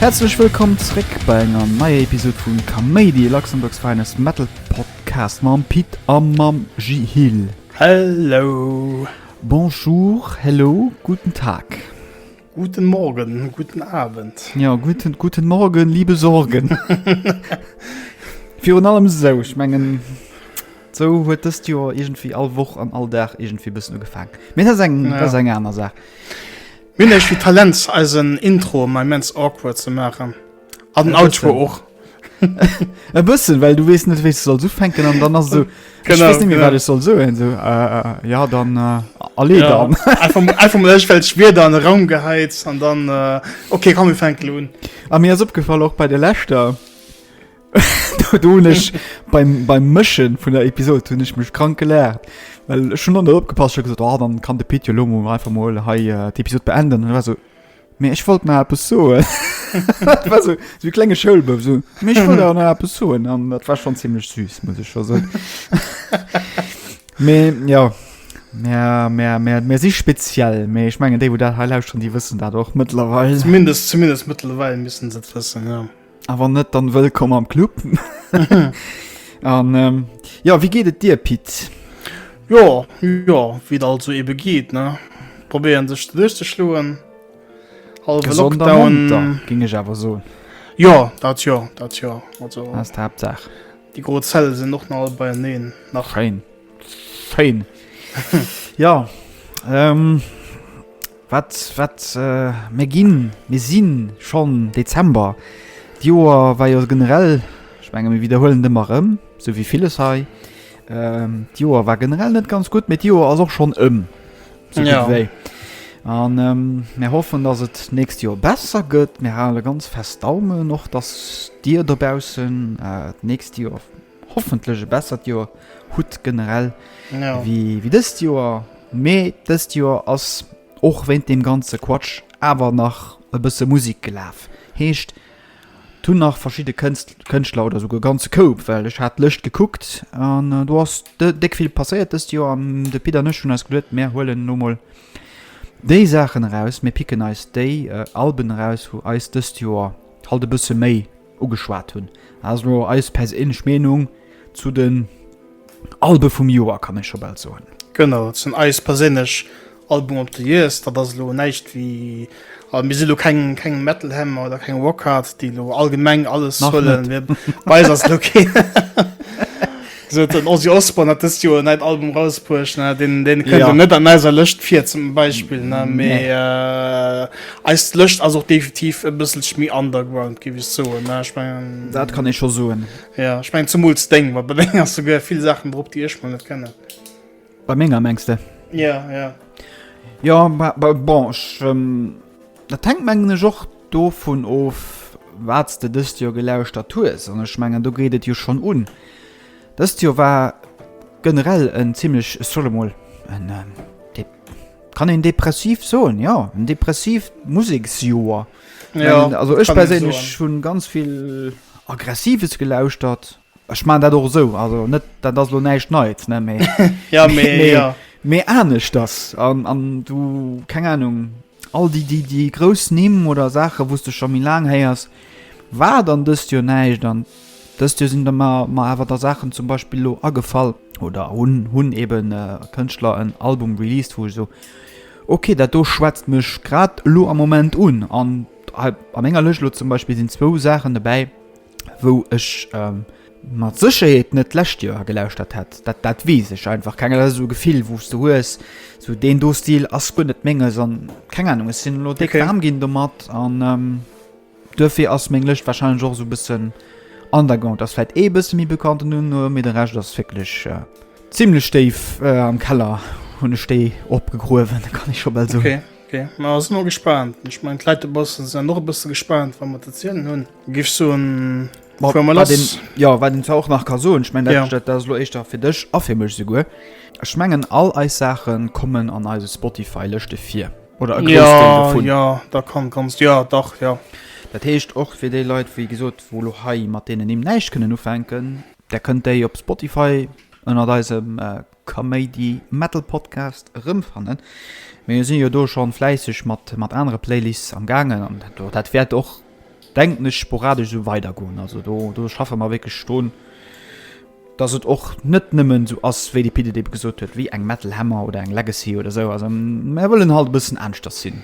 Häerzlech wëllkomm zréck bei enger neier Episod vun Kaméidi, Luxembourg's finest Metal Podcast mam Pit a mam Jihil. Hello! Bonjour, hello, guten Tag! Guten Morgen, guten Abend. Ja, guten, guten Morgen, liebe Sorgen. Virun allem esou, ech mengen, esou huet dëst Joer iergendwéi all Woch an all Dag iergendwéi e bëssen ugefaangen. Mee dat ass eng, dat ass eng aner Saach. Mir hunn eis wéi Talent, eisen Intro ëmmer immens awkward ze maachen. An den Outro och. E bëssen, well du wees net wéi soll so fenken an dann as so wat soll so so äh, ja dann äh, alle ja. Einfachfällg wie an Raum geheiz an dann äh, okay kann mir fenken hun. A mir as opgefall och bei de Lächter donech beim, beim Mëschen vun der Episode hunn ech mech krank geléert. Well schon an der opgepasst gesagt oh, dann kann de Pit Lomo einfach mo hei äh, d'Episode beenden war so Mee ech wollt na eppes soen. dat war so, so klenge Schoulbëf so. Mee ech wollt awer na eppes soen an dat war schon ziemlech süß, muss ech schon soen. Mee ja. Mer, mer, mer, mer si speziell, mee ech mengen déi, wou dat hei lauschteren, déi wëssen dat och mëttlerweil. Zumindest, zumindest mëttlerweil missten se et wëssen, ja. A wann net, dann wëllkomm am Club. An ähm, ja, wie geet et dir, Pit? Jo, jo, wéi et alt esou ebe geet, ne? Probéieren sech duerchzeschloen. Hallwe Gesond a Lockdown. munter, ging ech awer soen. Jo, dat jo, dat jo. Also, Ass d'Haaptsaach. déi gro Zelle sinn och nach all beieneen. Nach Schéin. Fein. ja. Ähm, wat, wat, äh, mir ginn, mir sinn schon Dezember. D'Joer war jo generell, ech menge mir wiederholen ëmmer rëm, sou wéi villes hei. Ähm, D'Joer war generell net ganz gutt, mee d'Joer ass och schon ëm. So gutt Ja. wéi. An ähm, mir hoffen, dass et nächst Joer besser gëtt. Mir hale ganz fest Daumen och, dass Dir dobaussen äh, d'nächst Joer hoffentlech e bessert Joer hutt generell wéi dëst Joer, mee dëst Joer ass och wéint deem ganze Quatsch awer nach e bësse Musek gelaf, heescht et hunn nach verschidde Kënschtler oder souguer e ganze Koup, well ech hat d'Lëscht gekuckt an do ass déck vill passéiert dëst Joer an de Pit an ech hunn eis geduet, mir huelen elo mol déi Saachen eraus, mir picken eis déi Alben eraus wou eis dëst Joer halt e bësse méi. Ugeschwat hunn. Dat ass elo eis perséinlech Meenung zu den Albe vum Joer, kann ee scho bal soen. Genau, zu den eis perséinlech Album of the years. Dat ass elo näischt wéi, a mir si elo keng, keng Metal Hammer oder keng Rockhard, déi elo allgemeng alles huelen. Bei eis ass elo kee. Gesot den Ozzy Osbourne hat dëst Joer en neit Album rausbruecht, ne? Deen, deen kënnt jo net an eiser Lëscht vir zum Beispill, ne? Mee äh, eis Lëscht ass och definitiv e bësselch méi underground, géif ech soen, ne? Ich mein, Dat kann ee scho soen. Ja, ich mein, zumools deng, wat bei deng ass souguer vill Saachen drop, déi ech mol net kennen. Bei menger mengs de? Ja, ja. Ja, ma, ma, bon, ech, ähm, dat hängt mengen ech och dovun of, wat s de dëst Joer gelauschtert hues. An ech mengen, do geet et jo schonn un. Dëst Joer war generell en zimmlech, ech soll emol en, ähm, de, kann een depressiv soen, ja, en depressivt Museksjoer. Ja, Mengen, also ech kann een soen. perséinlech hunn ganz vill Aggressives gelauschtert. Ech man dat och sou also net dat ass lo näischt neits ne mee ja mee ja mee anescht ass an an du keng ahnung all déi déi déi grouss nimm oder saache wouste scho mi laang héiers war dann dëst jo näischt an dëst jo sinn der ma ma awer der saachen zum beispill lo agefall oder hunn hunn eben äh, kënschtler en album released wou so okay dat do schwätzt mech grad lo am moment un an an enger lech lo zum beispill sinn zwou saachen dobäi wou ech ähm, mat Sécherheet net d'lescht Joer gelauschtert hätt. Dat, dat wees ech einfach keng dat so Gefill wos du hues so den do Stil ass gun net menge an keng Ahnung es sinn lo de okay. Arm ginn do mat an ähm, duerfir ass meng Lëcht wahrscheinlich och so bëssen an der Gang ass vielleicht ee bësse mi bekannt nun no mir de recht ass wirklich äh, ziemlich steif äh, am Keller hunn ech déi opgegruwen kann ich schon bald so. Okay. Okay. Ma ass no gespannt. Ech mein Kleitebossen se noch bësse gespannt, wann mat erzielen hunn. Gif soen Ma Fuer mal wat een, lass. jo, wat een zwar och nach ka soen, ech mengen, dat, Ja. dat ass elo éischter fir dech a fir mech souguer, ech mengen, all eis Saache kommen an eise Spotify-Lëschte vir oder e grouss Deel Ja, dovun. ja, da kann, kanns, jo, dach, jo. Dat heescht, och fir déi Leit, wéi gesot, wou elo hei mat deenen Nimm näischt kënnen ufänken, där kënnt déi op Spotify ënnert eisem Kaméidi Metal Podcast erëmfannen. Mee sinn jo do schonn fläisseg mat mat anere Playlists am gaangen an do dat wäert och denken ech sporadesch esou weidergoen. Also do do schaffe mer wierklech drun dass et och net nëmmen esou ass wéi de Pit et ebe gesot huet wéi eng Metal Hammer oder eng Legacy oder esou. Also mär wëllen halt e bëssen aneschters sinn.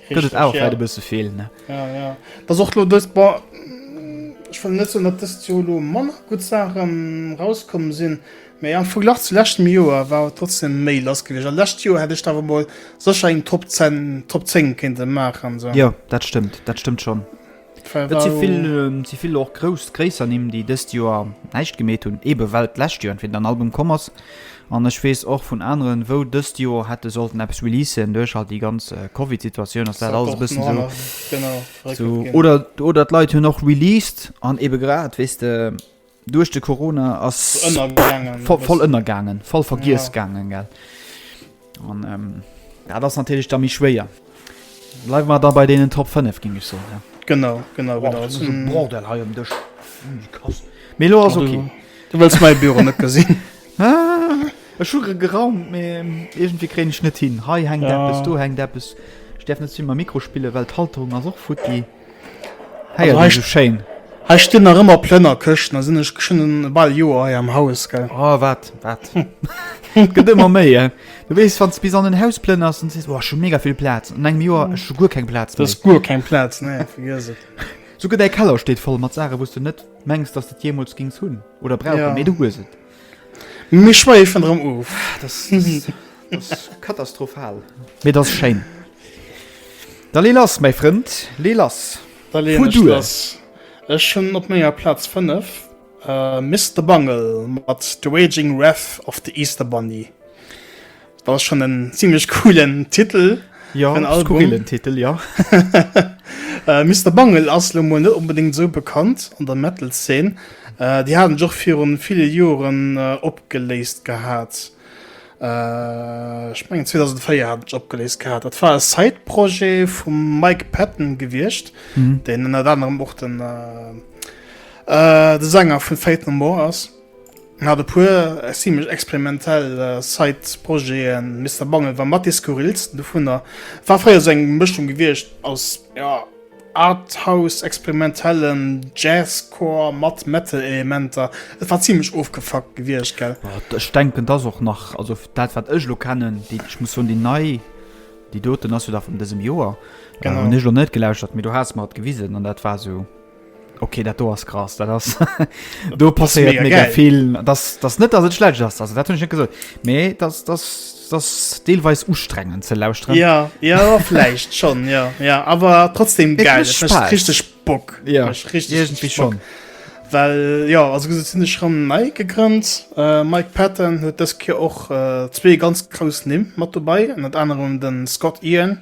Gëtt et awer vläit e bësse vill, ne? Ja, ja. Et ass och elo dëst, bon, ech wëll net soen, datt dëst Joer elo manner gutt Saache rauskomm sinn, mä am Verglach zu leschtem Joer war awer trotzdem méi lass gewiescht. A lescht Joer hätt ech da awer emol sécher eng Top 10, Top 10 kéinte maachen, sou. Jo, dat stëmmt, dat stëmmt schonn. Et si vill och grouss, gréisser Nimm, déi dëst Joer näischt gemeet hunn, eebe well d'lescht Joer entweder en Album komm ass, an ech weess och vun aneren, wou dëst Joer hätte sollten eppes releasen, duerch halt déi ganz Covid-Situatioun ass dat alles e bëssen esou, oder d'Leit hunn och released an eebe grad, weess de, Duerch de Corona ass voll ënnergaangen, voll vergiess gaangen gell. An ähm, ja, dat ass natierlech da méi schwéier. Bleiwe mat da bei deenen Top 5 ging ech so. Ja. Genau genau wow, genau mm. Bordel ha um Dëch Melo ass okay. Du wëst mei Büro net gesinn. E schuge geraumt mé egent wie kréne net hin. Hei heng ja. Deppes, du heng Deppes. Steffen net zimmer Mikrospille, well d'Halterung ass och futti. Hei ass esou schéin. Hei stinn nach ëmmer Plënnerkëschten, da sinn ech geschwënn e bal Joer hei am Haus, gell. Oh, wat, wat? Et gëtt ëmmer méi, eh? Du weess, wann s de bis an den Haus plënners, dann sees du, oh, ech hu mega vill Plaz. An engem Joer, ech hu guer keng Plaz méi. Du hues guer keng Plaz, nee, vergiess et. Souguer däi Keller steet voll mat Saachen, wou s de net mengs, dass de et jeemools géings hunn oder brauchen, mee du hues et. Mir schweifen erem of. Dass ass katastrophal. Mee dass schéin. Da lee lass mäi Frënd, lee lass. Da leen ech lass. Ech hunn op menger Platz 5 Mister Bungle mat The Raging Wrath of the Easter Bunny. Dat ass schon en ziemlech coolen Titel. Ja, en skurrilen Titel, ja. Äh, Mister Bungle ass lo mol net onbedéngt esou bekannt an der Metal-Szene. Äh, déi haten sech och viru ville Joren opgeléist gehat. Äh, ech mengen 2004 haten sech opgeléist gehat. Dat war e Side-Projet vum Mike Patton gewiescht, deen ënnert anerem och den, äh, de Sänger vun Faith No More ass. Hat e puer zimlech experimentell Side-Projeten, Mister Bungle war mat dee skurrilsten dovunner. War fréier sou eng Mëschung gewiescht aus, jo, Arthouse, experimentellem Jazzcore mat Metal-Elementer. Et war zimlech ofgefuckt gewiescht, gell? Ech denken, dass och nach, also dat wat ech elo kennen, ech muss soen, déi nei, déi doten ass jo da vun dësem Joer, hunn ech elo net gelauschtert, mee du has mer et gewisen an dat war sou. Okay, dat do ass krass, dat ass do passéiert mega geil. vill. Das das net ass et schlecht ass also dat hunn net gesot. Mee das das das deelweis ustrengen ze lausren. Ja ja flecht schon ja ja awer trotzdem ge richtig Bock ja. richtig schon. Well ja as gesot sinn ech ran mei gegrënnt. Äh, Mike Patten huet dës Kier och äh, zwee ganz grouss Nimm mat dobäi, an dat anerem den Scott Ian,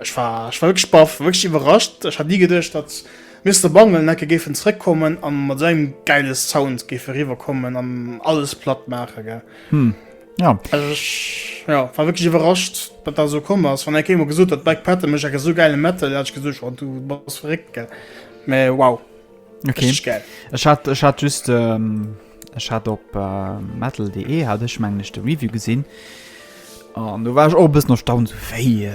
Ech war ech war wierklech baff, wierklech iwwerrascht. Ech hat ni geduecht, datt Mister Bungle en Ecke géifen zréck kommen an mat esou engem geile Sound géife riwwer kommen an alles platt maache gell. Jo. Also ech jo war wierklech iwwerrascht, datt dat esou komm ass. Wann eng Kéier mol gesot huet Black Panther mécht eng esou geile Metal, hätt ech gesot jo du bass verréckt gell. Mä wow. okay. ich hat ich hat just ähm, ich hat op äh, metalde hat ich mein nächste review gesinn an du war ich auch bis noch staun so wéi äh,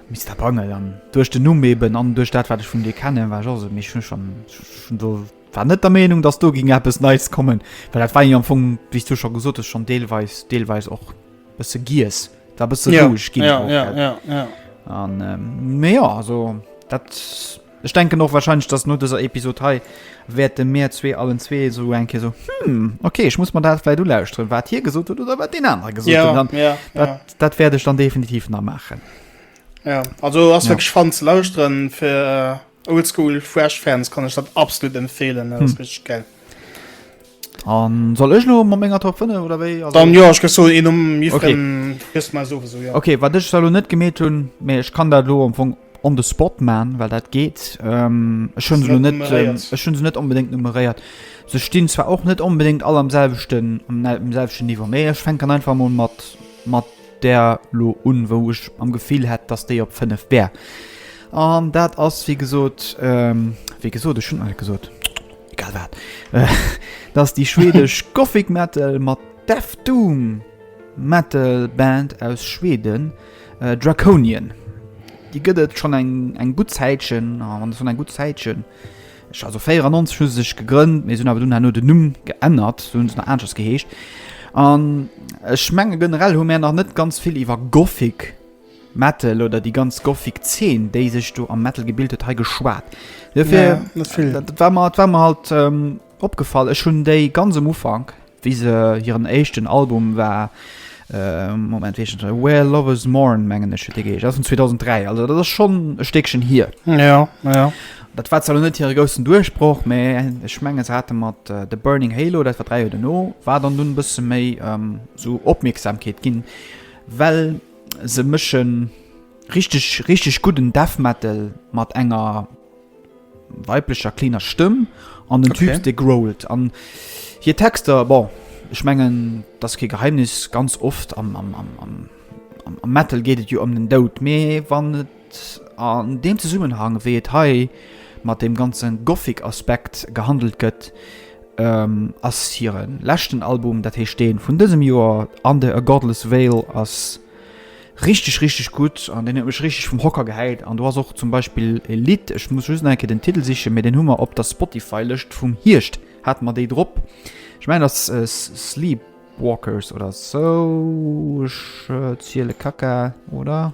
mister bangel an durch den nu eben an durch dat wat ich von dir kennen war also mich schon schon, schon so war net der meinung dass du ging bis nice kommen weil dat war am funk wie du schon gesucht ist schon deelweis deelweis auch bis du gies da bist du ja, ja, ja, ja, ja. an ähm, mehr so dat Ech denken och wahrscheinlech, dass no dëser Episod hei wäerte mir zwee allen zwee esou eng Kéier esou, Hm, okay, ech muss mer dat vläit ulauschteren, wat hie gesot huet oder wat deen anere gesot huet. An ja, dat, ja. dat wäert ech dann definitiv nach maachen. Ja, also ass ja. wirklich fan ze lauschteren fir äh, Oldschool Fresh Fans kann ech dat absolut empfehlen. Dat hm. ass richtig geil. An soll ech lo mat menger Top 5 oder wéi? Also Dann jo, ech gëss soen een nom jiddwerem gëss mer souwisou jo. Okay, wat ech zwar lo net gemeet hunn, mee ech kann dat lo am Fong on the spot maan, well dat geet. Ech hunn se lo net, ech hunn se net onbedéngt numeréiert. Se stinn zwar och net onbedéngt all am selwechten, am selwechten Niveau, mee ech fänken einfach mol mat mat där lo un, wou ech am Gefill hätt, dass déi op 5 wär. An dat ass wéi gesot, wéi gesot, ech hunn alt gesot. egal wat, et ass déi schwedesch Gothic Metal mat Death Doom Metal Band aus Schweden Draconian. Déi gëtt et schonn eng eng gutt Zäitchen, a wann schonn eng gutt Zäitchen, ech also 94 hu se sech gegrënnt, mee se hunn awer dunn herno den Numm geännert, se hunn dunn aneschters geheescht. An ech menge generell hu mär nach net ganz vill iwwer Gothic. Metal oder déi ganz gothic Zeen déi sech do am Metal gebilt huet hei geschwat. Dofir dat war mer dat war mer halt opgefall. Ech hunn déi ganz am Ufank wéi se hiren éischten Album war äh, Moment wéi heeschen se Where Lovers Mourn mengen ech huet dee geheesch, ass vun 2003 also dat ass schonn e Stéckchen hier. Ja, ja. Dat war zwar lo net hire groussen Duerchbroch, mä ech mengen se hate mat The Burning Halo, dat war dräi Joer duerno, war dann dunn e bësse méi esou Opmierksamkeet ginn, well Se mëschen richteg richteg gudden Death Metal mat enger weiblecher cleaner Stëmm an den Typ de growlt an hir Texter bon ech mengen dat ke Geheimnis ganz oft am am am am am Metal geet et jo ëm den Dout mee wann et An deem Zesummenhang, wéi et hei mat deem ganze Gothic-Aspekt gehandelt gëtt, ass hire leschten Album, dat heescht dee vun dësem Joer Under a Godless Veil, ass richteg, richteg gutt an deen huet mech richteg vum Hocker gehäit. An do ass och zum Beispill e Lidd, ech muss just nach eng Kéier den Titel sichen, mee deen hu mer op der Spotify-Lëscht vum Hierscht, hate mer déi drop, ech mengen et ass Sleepwalkers oder esou, ech ziele Kacka, oder?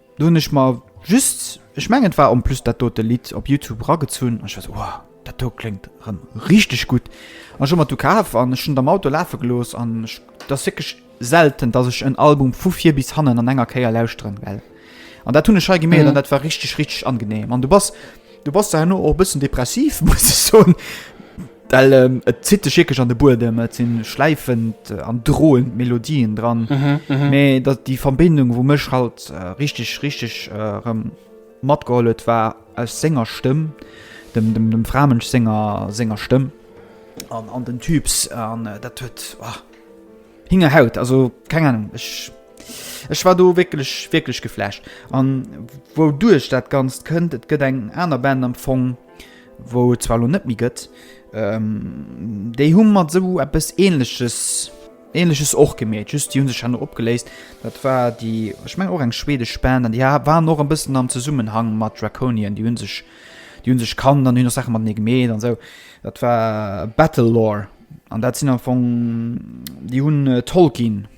Do hunn ech mer just, ech mengen et war en plus dat dote Lidd, op Youtube eragezunn an ech war sou, Wow, dat do kléngt erëm richteg gutt. An ech hu mer et du kaf an ech hunn et am Auto lafe gelooss an ech, et ass wierklech selten, dass ech en Album vu vir bis hannen an enger Kéier lauschteren, well, an dat hunn ech hei gemeet an dat war richteg, richteg angenehm an du bass, Du bass da herno och e bëssen depressiv, muss ech soen. Well et zitt dech wierklech an de Buedem, et si schläifend an droend Melodien dran. Mee dat déi Verbindung, wou mech halt richteg richteg erëm matgeholl huet, war aus senger Stëmm, dem dem dem Framënsch senger senger Stëmm an an den Typs an dat huet hingerhaut. Also keng Ahnung ech. Ech war do wierklech wierklech geflasht an wou duerch dat ganzt kënnt et gëtt eng aner Band am Fong wou et zwar lo net méi gëtt ähm, déi hu mat sou eppes ähnleches ähnleches och gemeet just die hun sech hanno opgeléist dat war die ech meng och eng schwedesch Band an die waren noch en bëssen am Zesummenhang mat Draconien die hun sech die hun sech kann dann hun noch Sachen mat nie gemeet an sou dat war Battle Lore an dat sinn am Fong die hunn äh, Tolkien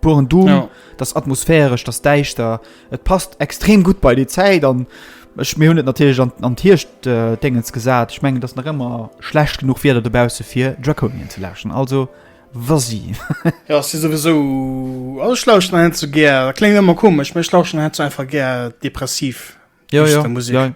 Puren Doom, ja. dat ass atmosphäresch, dat ass däischter. Et passt extrem gutt bei déi Zäit an ech mir hunn et natierlech an, an d'Hircht äh, Déngens gesat. Ech mengen, dass nach ëmmer schlecht genug Wieder dobause fir Draconien ze laschen. Also was si? ja, si sowieso all Schlauchten hin zu gär. Kling ëmmer komesch, mech lauschen hin zu einfach gär depressiv. ja, ja, Musik. Ja.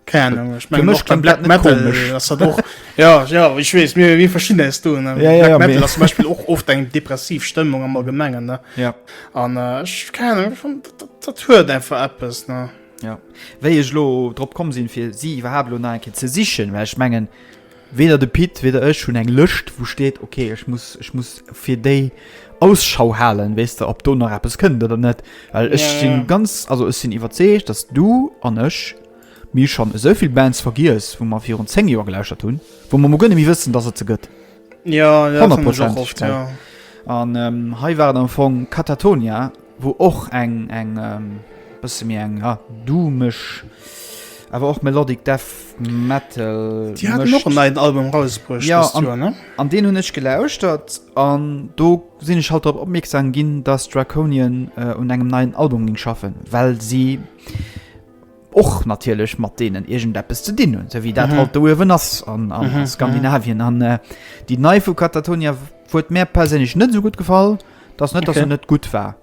Keine Ahnung, ich mein, auch Black Metal, das hat auch, ja, ja, ich weiß, mir, wir verstehen das, du, ne? ja, ja, Black Metal, das zum Beispiel auch oft eine depressive Stimmung am Allgemeinen, ne? Ja. Und, äh, ich, keine Ahnung, ich fand, das, das hört einfach etwas, ne? Ja. Wéi ech lo drop kom sinn fir si iwwerhab lo enke ze sichen, well ech menggen Weder de Pit, weder ech hunn eng Lëscht, wou steet, ok, ech muss, ech muss fir déi Ausschau halen, weess de, ob do nach eppes kënnt oder net. Well ech si ganz, also ech sinn iwwerzeegt, datt du an ech, mir schonn esou vill Bands vergiess, wou mer virun zéng Joer gelauschtert hunn, wou mer mol guer net méi wëssen, datt et se gëtt. Honnertprozentegerei. An hei war et am Fong Katatonia, wou och eng eng bësse méi eng ja doomeg awer och melodic death metal Déi haten och en mëscht. neien Album rausbruecht Ja, dëst Joer, ne? An deen hunn ech gelauschtert an do sinn ech halt drop opmierksam ginn, dass Draconian un engem neien Album géing schaffen, well si, och natierlech mat deenen iergendeppes ze dinn hunn, esou wéi dat mhm. halt do uewen ass an, an mhm. Skandinavien. An äh, Déi nei vu Katatonia huet mär perséinlech net so gut gefall, dats net okay. dat se net gut war.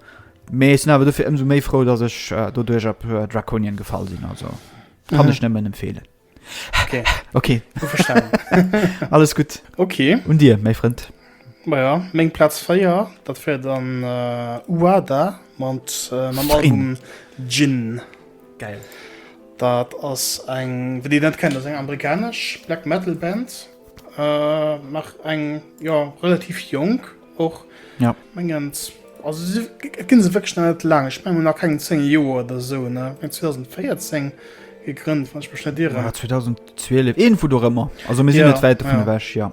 Mee sinn awer dofir ëmso méi frou, datt ech äh, do duerch op äh, Draconien gefall sinn also. Kann mhm. ech nëmmen empfeelen. Okay. okay. Alles gut. Okay. Und dir, méi Frend. Maja, meng Platz 4, dat wär dann äh, Uada mat äh, mam Album Gin. Geil. Dat ass eng, wenn Dir net kennt, ass eng amerikanesch Black Metal Band. Äh, nach eng, ja, relativ jonk och. Ja. Mengen, also si, et ginn se wécklech nach net laang. Ech mengen nach keng 10 Joer oder sou, ne? Eng 2014 gegrënnt, wann ech mech net irren. Ja, 2012, irgendwo dorëmmer. Also mir sinn ja, net wäit dovun ja. ewech, ja.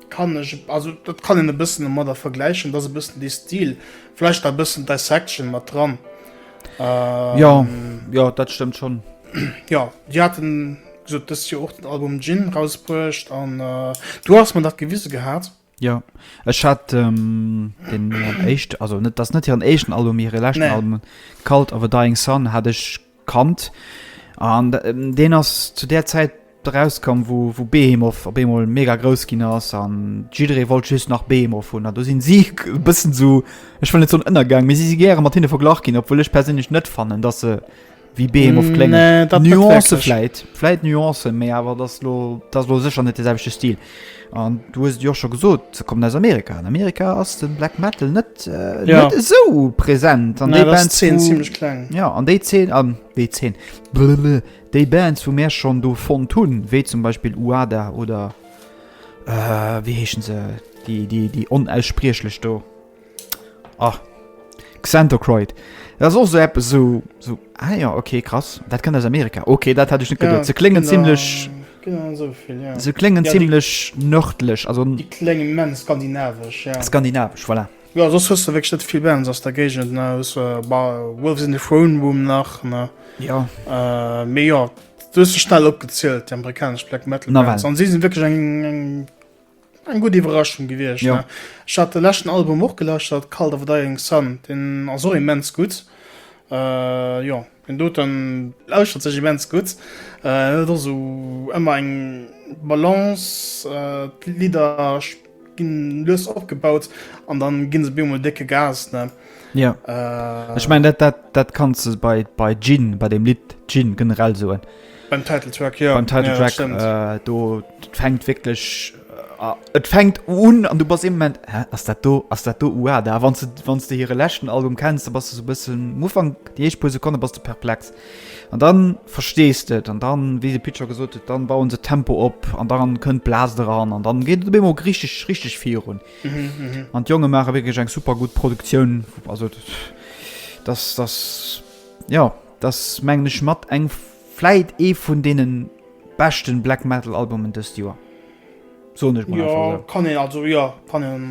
Kann ech, also dat kann een e bëssen domadder vergläichen, dass e bëssen dee Stil, vläicht a bëssen Dissection mat dran. Ähm, ja, ja, dat stëmmt schon. Ja, die hatten gesot dës Joer och den Album Gin rausbruecht an äh, du hast man dat gewisse gehat. Ja, ech hat ähm, den äh, echt, also net das net hireieren echten Album hireier lächten nee. Album Cult of a Dying Sun hat ech Kand, an deen ass zu där Zäit erauskomm, wou wou Behemoth op eemol mega grouss ginn ass an jidderee wollt just nach Behemoth hunn. An do sinn si e bëssen esou, ech wëll net soen ënnergaang, mee si si gäre mat hinne verglach ginn, obwuel ech perséinlech net fannen, datt se wéi Behemoth kléngen. Nuancë vläit, vläit Nuancen, mee awer et ass elo, et ass elo sécher net de selwechte Stil. An du hues et jo och scho gesot, se kommen aus Amerika. An Amerika ass den Black Metal net, äh, Ja. net esou präsent. An Nee, déi dat ass Bands, Zeen wo- ziemlech kleng. Ja, an déi 10, an déi 10, blablabla, déi Bands, wou mär schonn do fonnt hunn, wéi zum Beispill Uada oder, äh, wéi heeschen se, déi, déi, déi onausspriechlech do? Ah, Xanthochroid. Dat ass och esou eppes, esou, esou, ah jo, okay, krass, dat kënnt aus Amerika. Okay, dat hätt ech net geduet. Ja, Se kléngen genau. zimlech, Genau esou vill, ja. se kléngen Ja, déi- zimlech nërdlech, also Déi kléng immens skandinavesch, ja. skandinavesch, voilà. Jo, soss hues de wierklech net vill Bands aus der Géigend, ne? Hues äh, bah, Wolves in the Throne Room nach, ne? Jo, Äh, mee jo, du hues se schnell opgezielt, déi amerikanesch Black Metal Nawell. Bands. An si sinn wierklech eng, eng Eng gutt Iwwerraschung gewiescht. Jo. Ech hat de leschten Album och gelauschtert, Cult of a Dying Sun, deen ass och immens gutt. Jo, deen doten lauschtert sech immens gutt. En huet och esou ëmmer eng Balance, d'Lidder ginn lues opgebaut an da ginn se op eemol décke Gas, ne? Jo. Ech mengen dat, dat, dat kanns de bei, bei Gin, bei deem Lidd Gin generell soen. Beim Title Track, jo. Beim Title Track, ja, äh, do fängt wirklich. Äh, et fängt un an du bas im Moment Hä, ass dat do ass dat do UA da wann du wann du hire lächten Album kennst, da bas du so bëssen Mufang Di eich puer Sekonne bas du perplex. An dann verstees de et an dann wéi de Pitcher gesot huet, dann bauen se Tempo op an dann kënnt Blas dran an dann geet de Bemo richtig richtig virun. An mhm, mhm. d'Jonge mache wéi eng super gut Produktioun also dass das ja Et ass mengen ech mat eng, vläit ee vun deenen beschten Black Metal Albumen dëst Joer, soen ech mol einfach esou. Jo kann een, also jo kann een,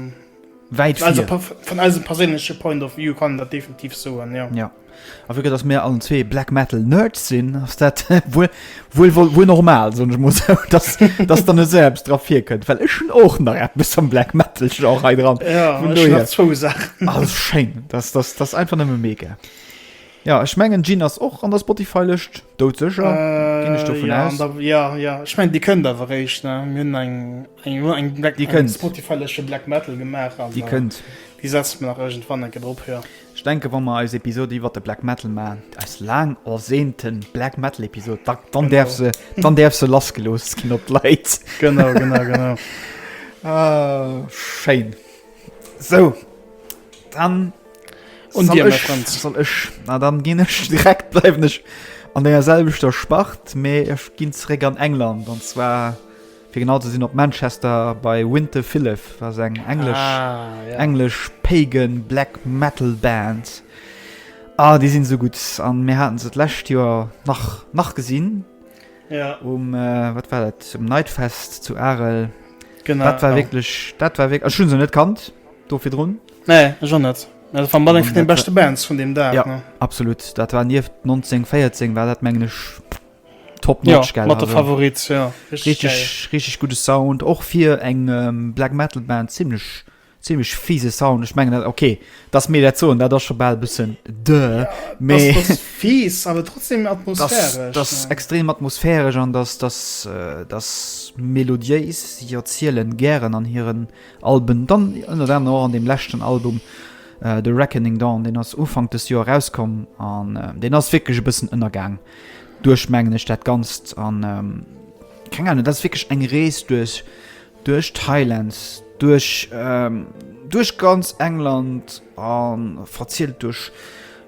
wäit vir, vun eisem perséinleche Point of View kann een dat definitiv soen jo. Jo a vu gëtt dass mir allen zwee Black Metal Nerds sinn ass dat wuel, wuel, wuel, wuel normal soen ech mol esou, dass, dass dann esou eppes dra vir kënnt, well ech hunn och nach eppes am Black Metal Genre hei dran, vun dohier, ass schéin, dass, dass, dass einfach nëmme mega. Ja ech mengen Jin ass och an der Spotify Lëscht, doudsécher ginn ech dovun aus. An der jo jo ech mengen déi kënnt awer réischt ne, mir hunn eng eng elo eng Black déi kënnt Spotify Lëscht fir Black Metal gemaach an déi kënnt déi setze mer nach iergendwann enke drop jo. Ech denke wa mer eis Episode iwwert de Black Metal maachen, eis laang ersehnte Black Metal Episode, da dann däerf se dann däerf se lass gelooss ginn op d'Leit. Genau genau genau. Schéin esou dann. Und dir, mein Freund. Soll ech? Na dann ginn ech direkt bleiwen ech an denger selwechter Spart, mee ech ginn zréck an England an zwar fir genau ze sinn op Manchester bei Winter Phillip, was eng englesch ah, ja. englesch Pagan Black Metal Band. Ah, déi sinn so gut an mir haten se d'läscht Joer nach nach gesinn. Ja. Um äh, wat war dat zum Nightfest zu Arel. Genau. Dat war ja. wirklich dat war wirklich schon se net kannt do fir run. Nee, ech och net. Also van Balling vun den beste Bands vun dem Dag. Ja, ne? absolut. Dat war nieft 1914, war dat mengen ech top ja, notch, gell? Mat der also, Favorit, ja. Richtig, richtig, richtig gute Sound. Och fir eng ähm, Black Metal Band ziemlich ziemlich fiese Sound. Ich mengen dat okay, dass mir dat soen, dat ass schon bal e bëssen dë. Ja, Mais das, das fies, aber trotzdem atmosphärisch. Das, das ja. extrem atmosphärisch an das das äh, das melodiéis. Sie erzielen gären an hiren Alben, dann ënnert anerem och an deem leschten Album The Reckoning Dawn, deen ass Ufank dëst Joer erauskomm an deen ass wierklech e bëssen ënnergaang duerch, mengen ech, dat Ganzt an keng Ahnung, dat ass wierklech eng Rees duerch, duerch Thailand, duerch, duerch ganz England a verzielt duerch,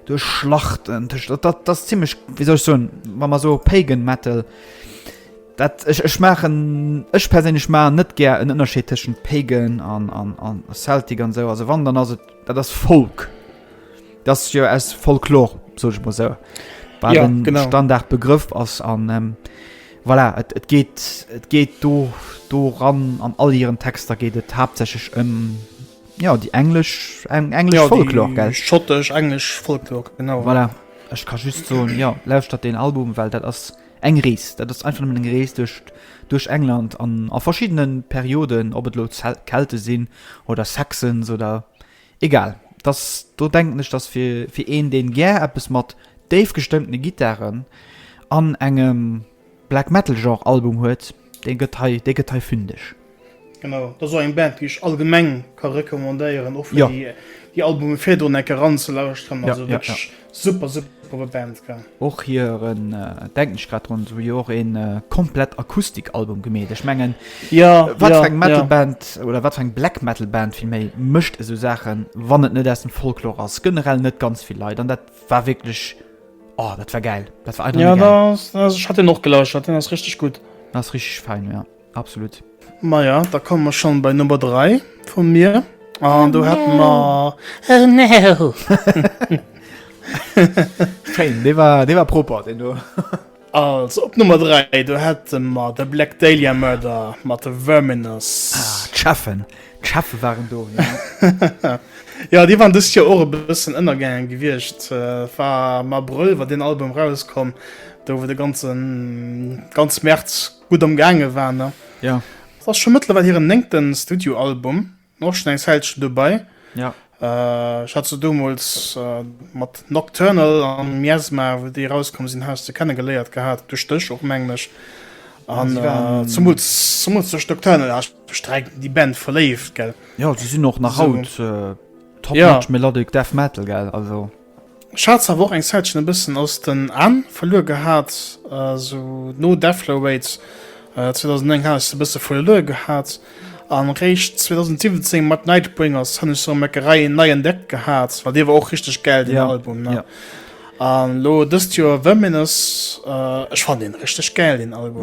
duerch Schlachten, dat ass zimlech, wéi soll ech soen, wa mer esou Pagan Metal. Dat ech ech maachen ech perséinlech maachen net gär en Ënnerscheed tëschent Pagan an an an Celtic an esou. Also wann dann ass et dat ass Folk. Dat ass jo aus Folklor, soll ech mol esou. Wat Ja, en genau. Standard Begrëff ass an ähm, voilà, et et geet et geet do doran an all hiren Texter geet et haaptsächlech ëm ja déi englesch eng englesch Ja, Folklor déi gell. Schottesch, englesch Folklor, genau. Voilà. Ech ka just soen, ja lauschtert deen Album, well dat ass Eng Rees, dat ass einfach nëmmen eng Rees duerch England an a verschiddenen Perioden, ob et elo Kelten sinn oder Saxons oder egal. Dass do denken ech, dass fir fir een deen gär eppes mat déif gestëmmtene Gittaren an engem Black Metal Genre Album huet, Dee gëtt hei, dee gëtt hei fündeg. Genau, dat ass och eng Band, déi ech allgemeng ka recommandéieren, och fir déi, déi Albume virdrun eng Kéier eranzelauschteren. Also wierklech super, super Band, gell. Och hiren, denken ech grad drun, se hu jo och ee komplett Akustik-Album gemeet. Ech mengen, wat fir eng Metal-Band, oder wat fir eng Black-Metal-Band villméi, mécht esou Saachen, wann et net aus dem Folklore ass? Generell net ganz vill Leit, an dat war wierklech. Oh, dat war geil. Dat war einfach ja, geil. Ja, ich hatte den auch gelauscht, den ist richtig gut. Das ist richtig fein, ja. Absolut. Maja, da kommen wir schon bei Nummer 3 von mir. Und oh, du no. hatten wir... Oh no! Fein, der war, der war proper, den du. Also op Nummer 3 do hätte mat de Black Dahlia Murder mat de Verminus. Ah, D'Cheffen D'Cheffe waren do. Ja Dir waren dës jo och e bëssen ënnergaangen gewiescht. Äh, war am Abrëll war den Album rauskomm, do wou de ganzen ganz März gutt am gaange war ne. Ja. Ass scho mëttlerweil hiren néngten Studioalbum. Och schon eng Zäitchen dobei. Ja. Äh, ich hatte so damals äh, mat Nocturnal an Miasma, wo die rauskommen sind, hast du kennengeleiert gehabt, durch dich auch menglich. An äh, zum zum zu Nocturnal hast du direkt die Band verlebt, gell? Ja, sie sind auch nach so. haut äh, top ja. melodic Death Metal, gell? Also. Ech haat se awer och eng Zäitchen e bëssen aus den Aan verluer gehaat, sou no Deflow Raids 2009 haat ech se e bësse verluer gehaat, an réischt 2017 mat Nightbringers han ech se rem ecke Rei nei entdeckt gehaat, well dee war och richteg gäil deen Album ne, an lo dëst Joer Verminous, ech fannen deen richteg gäil deen Album.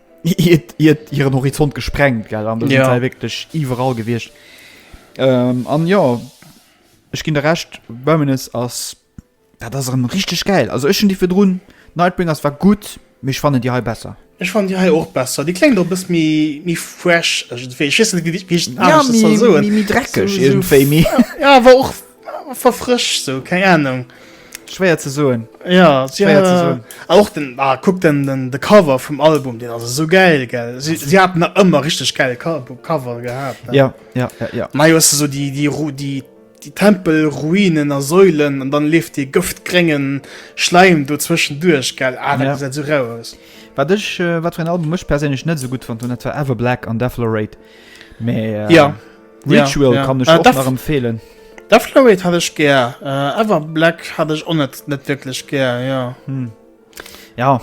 iert, iert hiren Horizont gesprengt gell an ja. sei wirklich iwwerall gewircht ähm, an ja ich ging der recht wenn es as ja, das er richtig geil also ich die fürdroen Nightbringers war gut mich fand die he besser ich fand die he auch besser die klingt doch bis mir mir fresh dreckig irgendwie ja, war auch Ah, verfrëscht sou, keng Ahnung. Schwéier ze soen. Ja, si Schwéier ze soen. hat och den, ah, kuck den, den, de Cover vum Album, den ass esou geil, gell. Si, si haten nach ëmmer richteg geil Co Cover gehat, ne? Ja, ja, ja, ja. An hei hues de sou déi, déi, Ru déi, déi Tempelruinen a Säulen an dann leeft dee gëftgréngen Schläim do zwëschenduerch, gell. Ah, dat Ja. gesäit esou rau aus. Wat ech, äh, wat fir en Album ech perséinlech net esou gutt fonnt hunn, dat war Ever Black an Deflorate. Mee, äh, Ja. Ritual ja, kann ech äh, nach empfehlen. Da Floyd hat ech gär äh, Ever Black hat ech on net net wirklich gär ja hm. ja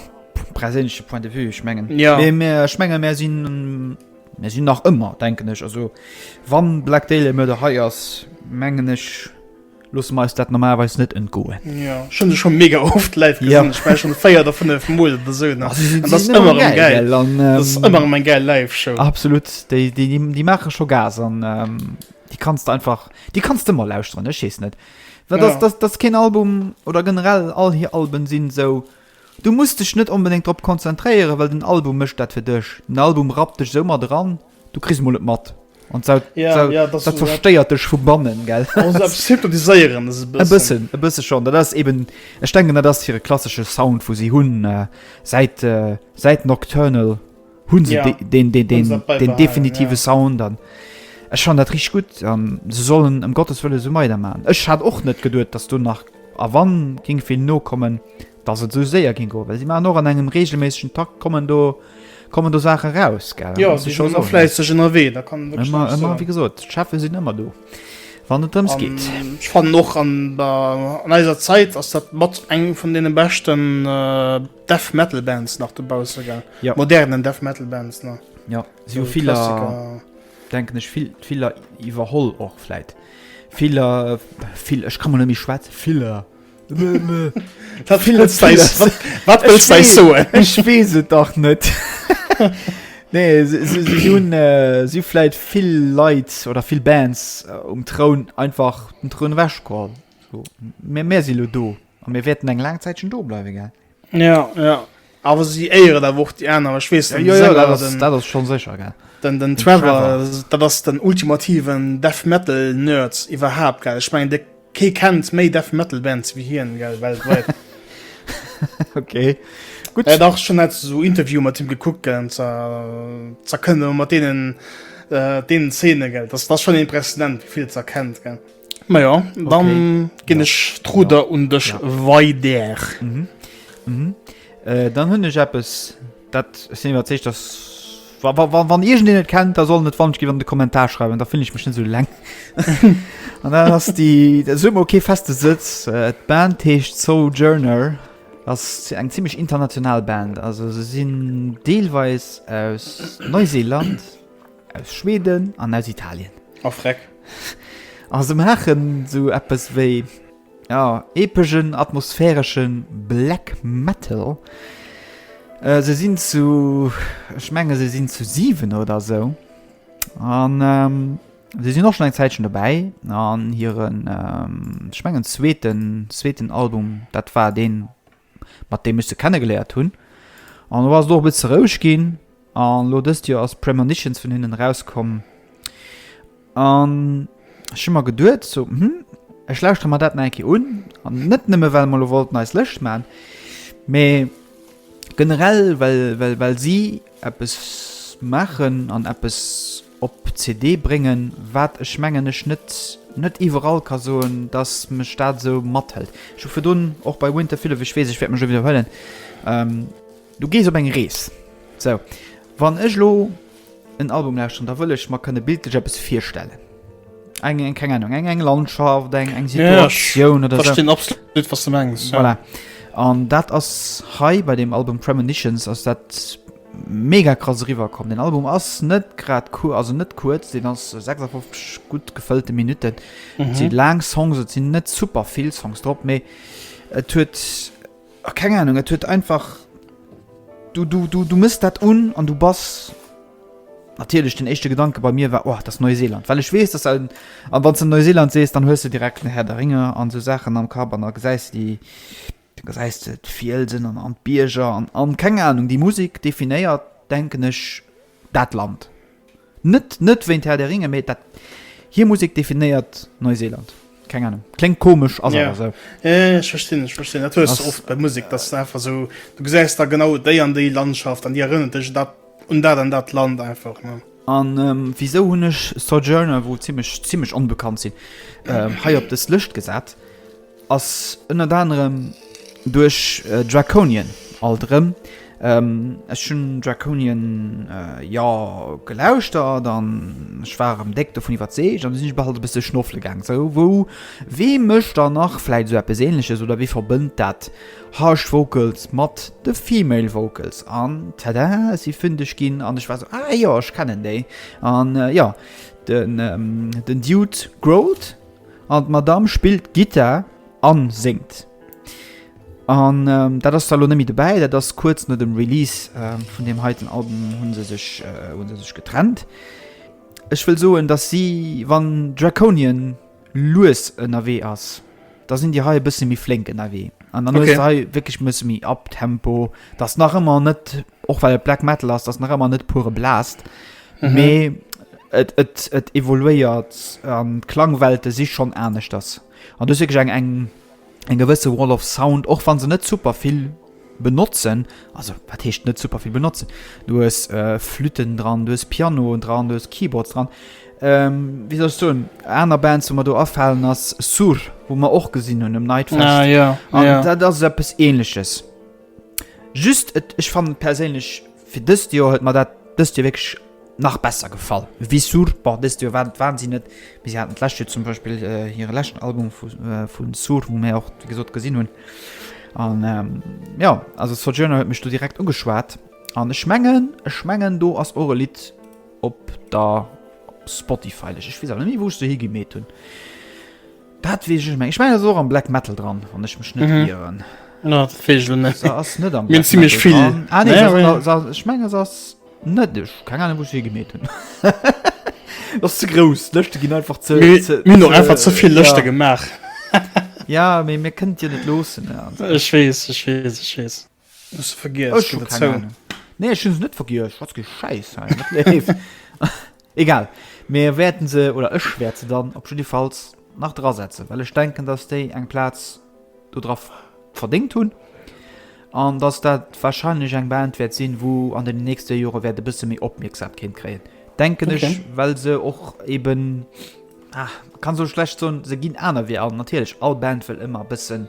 präsensche Point de vue schmengen ja mehr schmenge mehr sinn mehr sinn nach ëmmer denken ech also wann Black Dale mörder heiers mengen ech Loosse mer eis dat normalerweis net entgoen. Jo, ech hunn se scho mega oft live gesinn. Ja. Ech war schonn véier oder fënnef Mol oder sou. Ah, si si- si sinn ëmmer erëm gäil, gell? An, ähm, Dat ass ëmmer erëm eng gäil Live-Show. Absolut, déi, déi, déi, déi maache scho Gas an ähm, déi kanns de einfach, déi kanns de ëmmer lauschteren, ech weess net. Well Ja. dass, dass, dass keen Album oder generell all hir Alben sinn esou, du muss dech net onbedéngt drop konzentréieren, well den Album mécht dat fir dech. Den Album rappt dech esou mat eran. Du kriss mol net mat. An dat, ja, dat, ja, dat, dat verstéiert dech vu bannen gell hypnotiséieren e bëssen e bësse schon dat ass eben ech denken dat ass hire klassische Sound vu si hunn äh, seit äh, seit Nocturnal hunn se ja, de, den den, den, den, den definitive ja. Sound an Ech schon dat rich gut an se sollen em um Gottes wëlle so meider man Ech hat och net geduet dass du nach a wann ging vill no kommen dass et esou séier ging goen, well si maachen och an engem regelméissegen Takt kommen do kommen do Saache raus, gell? Ja, si sinn ëmmer fläisseg ënnerwee, da kann een wierklech näischt soen. Ëmmer, ëmmer, wéi gesot, d'Cheffe sinn ëmmer do, wann et drëms geet. An ech fannen och an der, an eiser Zäit ass dat mat eng vun deene beschten Death Metal Bands nach dobausse, gell? Ja. Modernen Death Metal Bands, ne? Ja, si hu viller, denken ech, vill, viller iwwerholl och vläit. Viller, vill, ech ka mol net méi schwätzen, viller. Wat wëlls dei s- wat, wat wëlls dei soen? Ech weess et dach net. nee, si, si, si hunn äh, si hu vläit vill Leit oder vill Bands äh, um Troun einfach den Troun ewechgeholl. So. Mä mär si lo do. A mir wäerten eng laang Zäitchen do bleiwe, gell? Ja, ja. Awer si éieren awer och déi aner. Ech weess net, Ja, ja, ja, Sänger, dat ass, den- dat ass schon sécher, gell. den, den Trevor, Trevor. dat ass den ultimativen Death Metal Nerd iwwerhaapt gell. Ech mengen de kee kennt méi Death Metal Bands wéi hien gell weltwäit. Okay. Gutt. Et dach schon net so Interview mat him gekuckt gell zerkënne mat denen äh, denen Zeene gell. Das das schon impressionant wéi vill zerkennt gell. Ma jo, dann okay. ginn ech ja. d'Ruder ja. un dech ja. weider. Mhm. Mhm. Äh, dann hunn ech eppes, dat sinn iwwer zeich, dat wann ihr den net kennt da soll net wann gi an de kommentar schreiben da finde ich mich so lang an dann hast die der summe okay feste sitz äh, band hecht so journal das eng ziemlich international band also sie sind deelweis aus neuseeland Aus Schweden an aus Italien. A freck. A se maachen sou eppes wéi, ja, epegen, atmosphäreschen Black Metal. Se sinn zu, ech menge se sinn zu 7 oder sou. An se sinn och schon eng Zäitchen dobäi. An hiren, ech mengen zweeten, zweeten Album, dat war deen, mat deem ech se kennegeléiert hunn. An elo ass et och e bësse roueg ginn. An elo dëst Joer ass Premonitions vun hinnen erauskomm. An ech hu mer geduet, so, hm, ech lauschtere mer dat nach eng Kéier un. An net nëmme well mer elo wollten eis Lëscht maachen, mee generell well, well, well si eppes maachen an eppes. op CD bréngen, wat ech mengen ech net net iwwerall ka soen, dass mech dat esou mathëlt. Ech hu virdrun och bei Winter Filled of, ech weess ech wäert mech elo widderhuelen, ähm du gees op eng Rees. Sou, wann ech elo en Album lauschteren, da wëll ech mer kënne bildlech eppes virstellen, eng eng keng Ahnung eng eng Landschaft, eng eng Situatioun oder sou. Jo, ech verstinn absolut wat s de mengs, jo. Voilà, an dat ass hei bei deem Album Premonitions ass dat, Mega krass eriwwer komm. Den Album ass net grad cool, also net kuerz, den ass 56 gutt gefëllte Minutten. Et mhm. sinn laang Songs, et sinn net super vill Songs drop, méi et huet ah, keng Ahnung, et huet einfach du, du, du, du misst dat un an du bass natierlech den echte Gedanke bei mir war oh, das Neuseeland, Well ech wees dat an wann ze Neuseeland sees, dann hues du direkt den Herr der Ringe an so Saachen am Kap an da gesäis déi Du gesäis de d'Fielsen an an d'Bierger an an, keng Ahnung, déi Musik definéiert, denken ech, dat Land. Net, net wéint Herr der Ringe, mee dat, hir Musik definéiert Neuseeland. Keng Ahnung, kléngt komesch, ass awer esou. Ja, ja, ja, ech verstinn, ech verstinn. Dat hues de oft bei Musik, dass et einfach esou, du gesäis da genau déi an déi Landschaft an déi erënnert dech dat, un dat an dat Land einfach, ne. A wisou hunn ech Sojourner, wou zimmlech, zimmlech onbekannt sinn, hei op des Lëscht gesat? Ass ënnert anerem duerch Draconian alt erëm. Ech hunn Draconian jo gelauschtert an ech war erëm déck dovun iwwerzeegt an du sinn ech bal e bësse schnoffele gaangen. Sou wou, wee mécht dann nach vläit esou eppes Ähnleches oder wee verbënnt dat Harsh Vocals mat de Female Vocals? An tada, ech si fündeg ginn an ech war esou, ah jo, ech kennen déi. An jo, den Dude growlt. An d'Madame spillt Gittar an séngt. An dat ass da lo net méi dobäi. Dat ass kuerz no dem Release vun deem heiten Album hu se sech hu se sech getrennt. Ech wëll soen, datt si, wann Draconian lues ënnerwee ass, da sinn déi hei e bësse méi flénk ënnerwee. An dann hues de hei wierklech e bësse méi Uptempo. Dat ass nach ëmmer net, och well et Black Metal ass, dat ass nach ëmmer net pure Blast. mhm. mee et, et, et evoluéiert an d'Klangwelte si schon anescht ass. An du sech eng eng eng gewësse Wall of Sound och wann se net super vill benotzen also wat heescht net super vill benotzen du es äh, Flüten dran, du es Piano dran, du es Keyboards dran. Ähm, wie sollst du en aner Band wo man do afallen ass Sur, wo man och gesinn hunn um Night ah, ja, ja. dat ass eppes ähnlichches. Just et ech fannen perséinlech fir dëst Joer huet mer dat dëst Joer wierklech nach besser gefall. Vissur, bon dëst Joer war waren si net, mee si haten d'lescht Joer zum Beispill hire leschten Album vu vu Sur, wou mir och wéi gesot gesinn hunn an jo also Sojourner huet mech do direkt ugeschwat an ech mengen ech mengen do ass och e Lidd op der Spotify-Lëscht. Ech weess awer net méi wou ech se higemeet hunn. Dat wees ech meng ech meng so am black metal dran an ech mech net mhm. ieren ass net am ziemlich viel ah, ech meng ass net dech kann an wo gemet hun was ze gros lechte gin einfach ze min noch einfach zuviel lechte gemacht ja mé mir kënnt dir net losen ech wees ech wees ech wees Nee ech hun se net vergiess, schwatz kee Schäiss hei, wat leeft? Egal, mir wäerten se, oder ech wäert se dann op jiddifalls nach dra setzen, well ech denken, datt déi eng Plaz do dra verdéngt hunn an datt dat warscheinlech eng Band wäert sinn, wou an deenen nächste Jore wäert e bësse méi Opmierksamkeet kréien, denken ech, well se och eeben. Ah, kann so schlecht son, se ginn aner wéi all. Natierlech all Band wëll ëmmer bëssen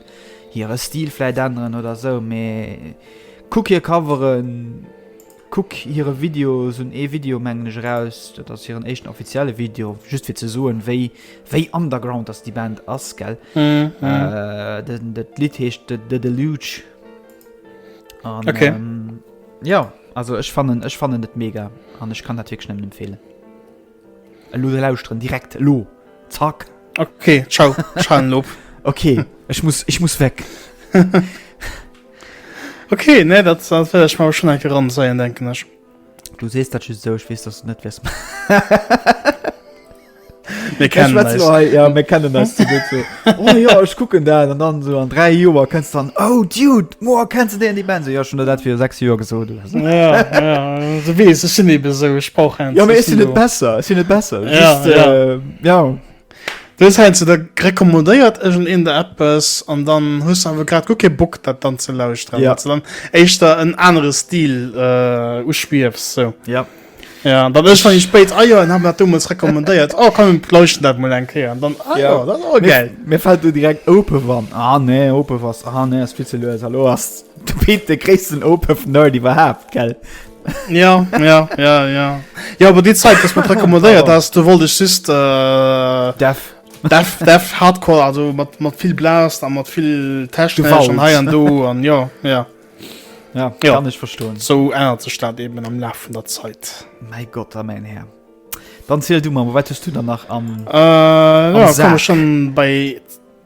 hire Stil vläit änneren oder sou, mee kuck hir Coveren, kuck hire Videos, hunn ee Video mengen ech eraus, dat ass hiren éischten offizielle Video, just fir ze soen wéi wéi underground dass déi Band ass, gell? Den dat Lidd heescht The Deluge an okay. ähm, ja, also ech fannen ech fannen et mega an ech kann dat wierklech nëmmen empfeelen. Elo da lauschteren, direkt, elo, zack! Ok, ciao, ech halen op. Ok, ech muss, ech muss weg. Ok, nee, dat well ech mer schon eng Kéier ranzeien, denken ech. Du sees dat just esou, ech weess, dass du net wäers. Mir kennen eis. Mir kennen eis. oh ja ech kucken dat an dann so an dräi Joer kënns dann oh Dude Mo kennst du deen de Ben se jo schon dat fir sechs Joer gesot wees ech sinn ebe sou ech brauch Ja mé sinn net besser sinn net besser ja. Dës heinze der rekommodéiert egent een der Apps an dann hues du awer grad gu ke Bock dat dann ze lauschteren, ja. dann éischter en anere Stil äh, uspiefs sou. Ja. Ja, dat ech schon spéit Eier ah, an haben dat dummels rekommandéiert. Oh kann leuchten dat mul eng Keier dann ah, ja. ja, dat oh, geil. Mir fällt du direkt open wann ah, nee open was ah, nee as viel ze lös hallo hast du Pete de christen open nerd die überhaupt gell. ja ja ja ja ja aber die Zeit was man rekommandéiert hast du wollt ich just äh, Def. Def, Def hardcore also mat mat viel blast an mat viel Test schon he an do an ja ja Ja, ja, kann ech verstoen. Sou ännert sech dat eben am Laf vun der Zäit. Mäi Gott a mäin Här. Dann ziel du mam, wat hues du dann nach am. Äh, ja, Sack. schon bei.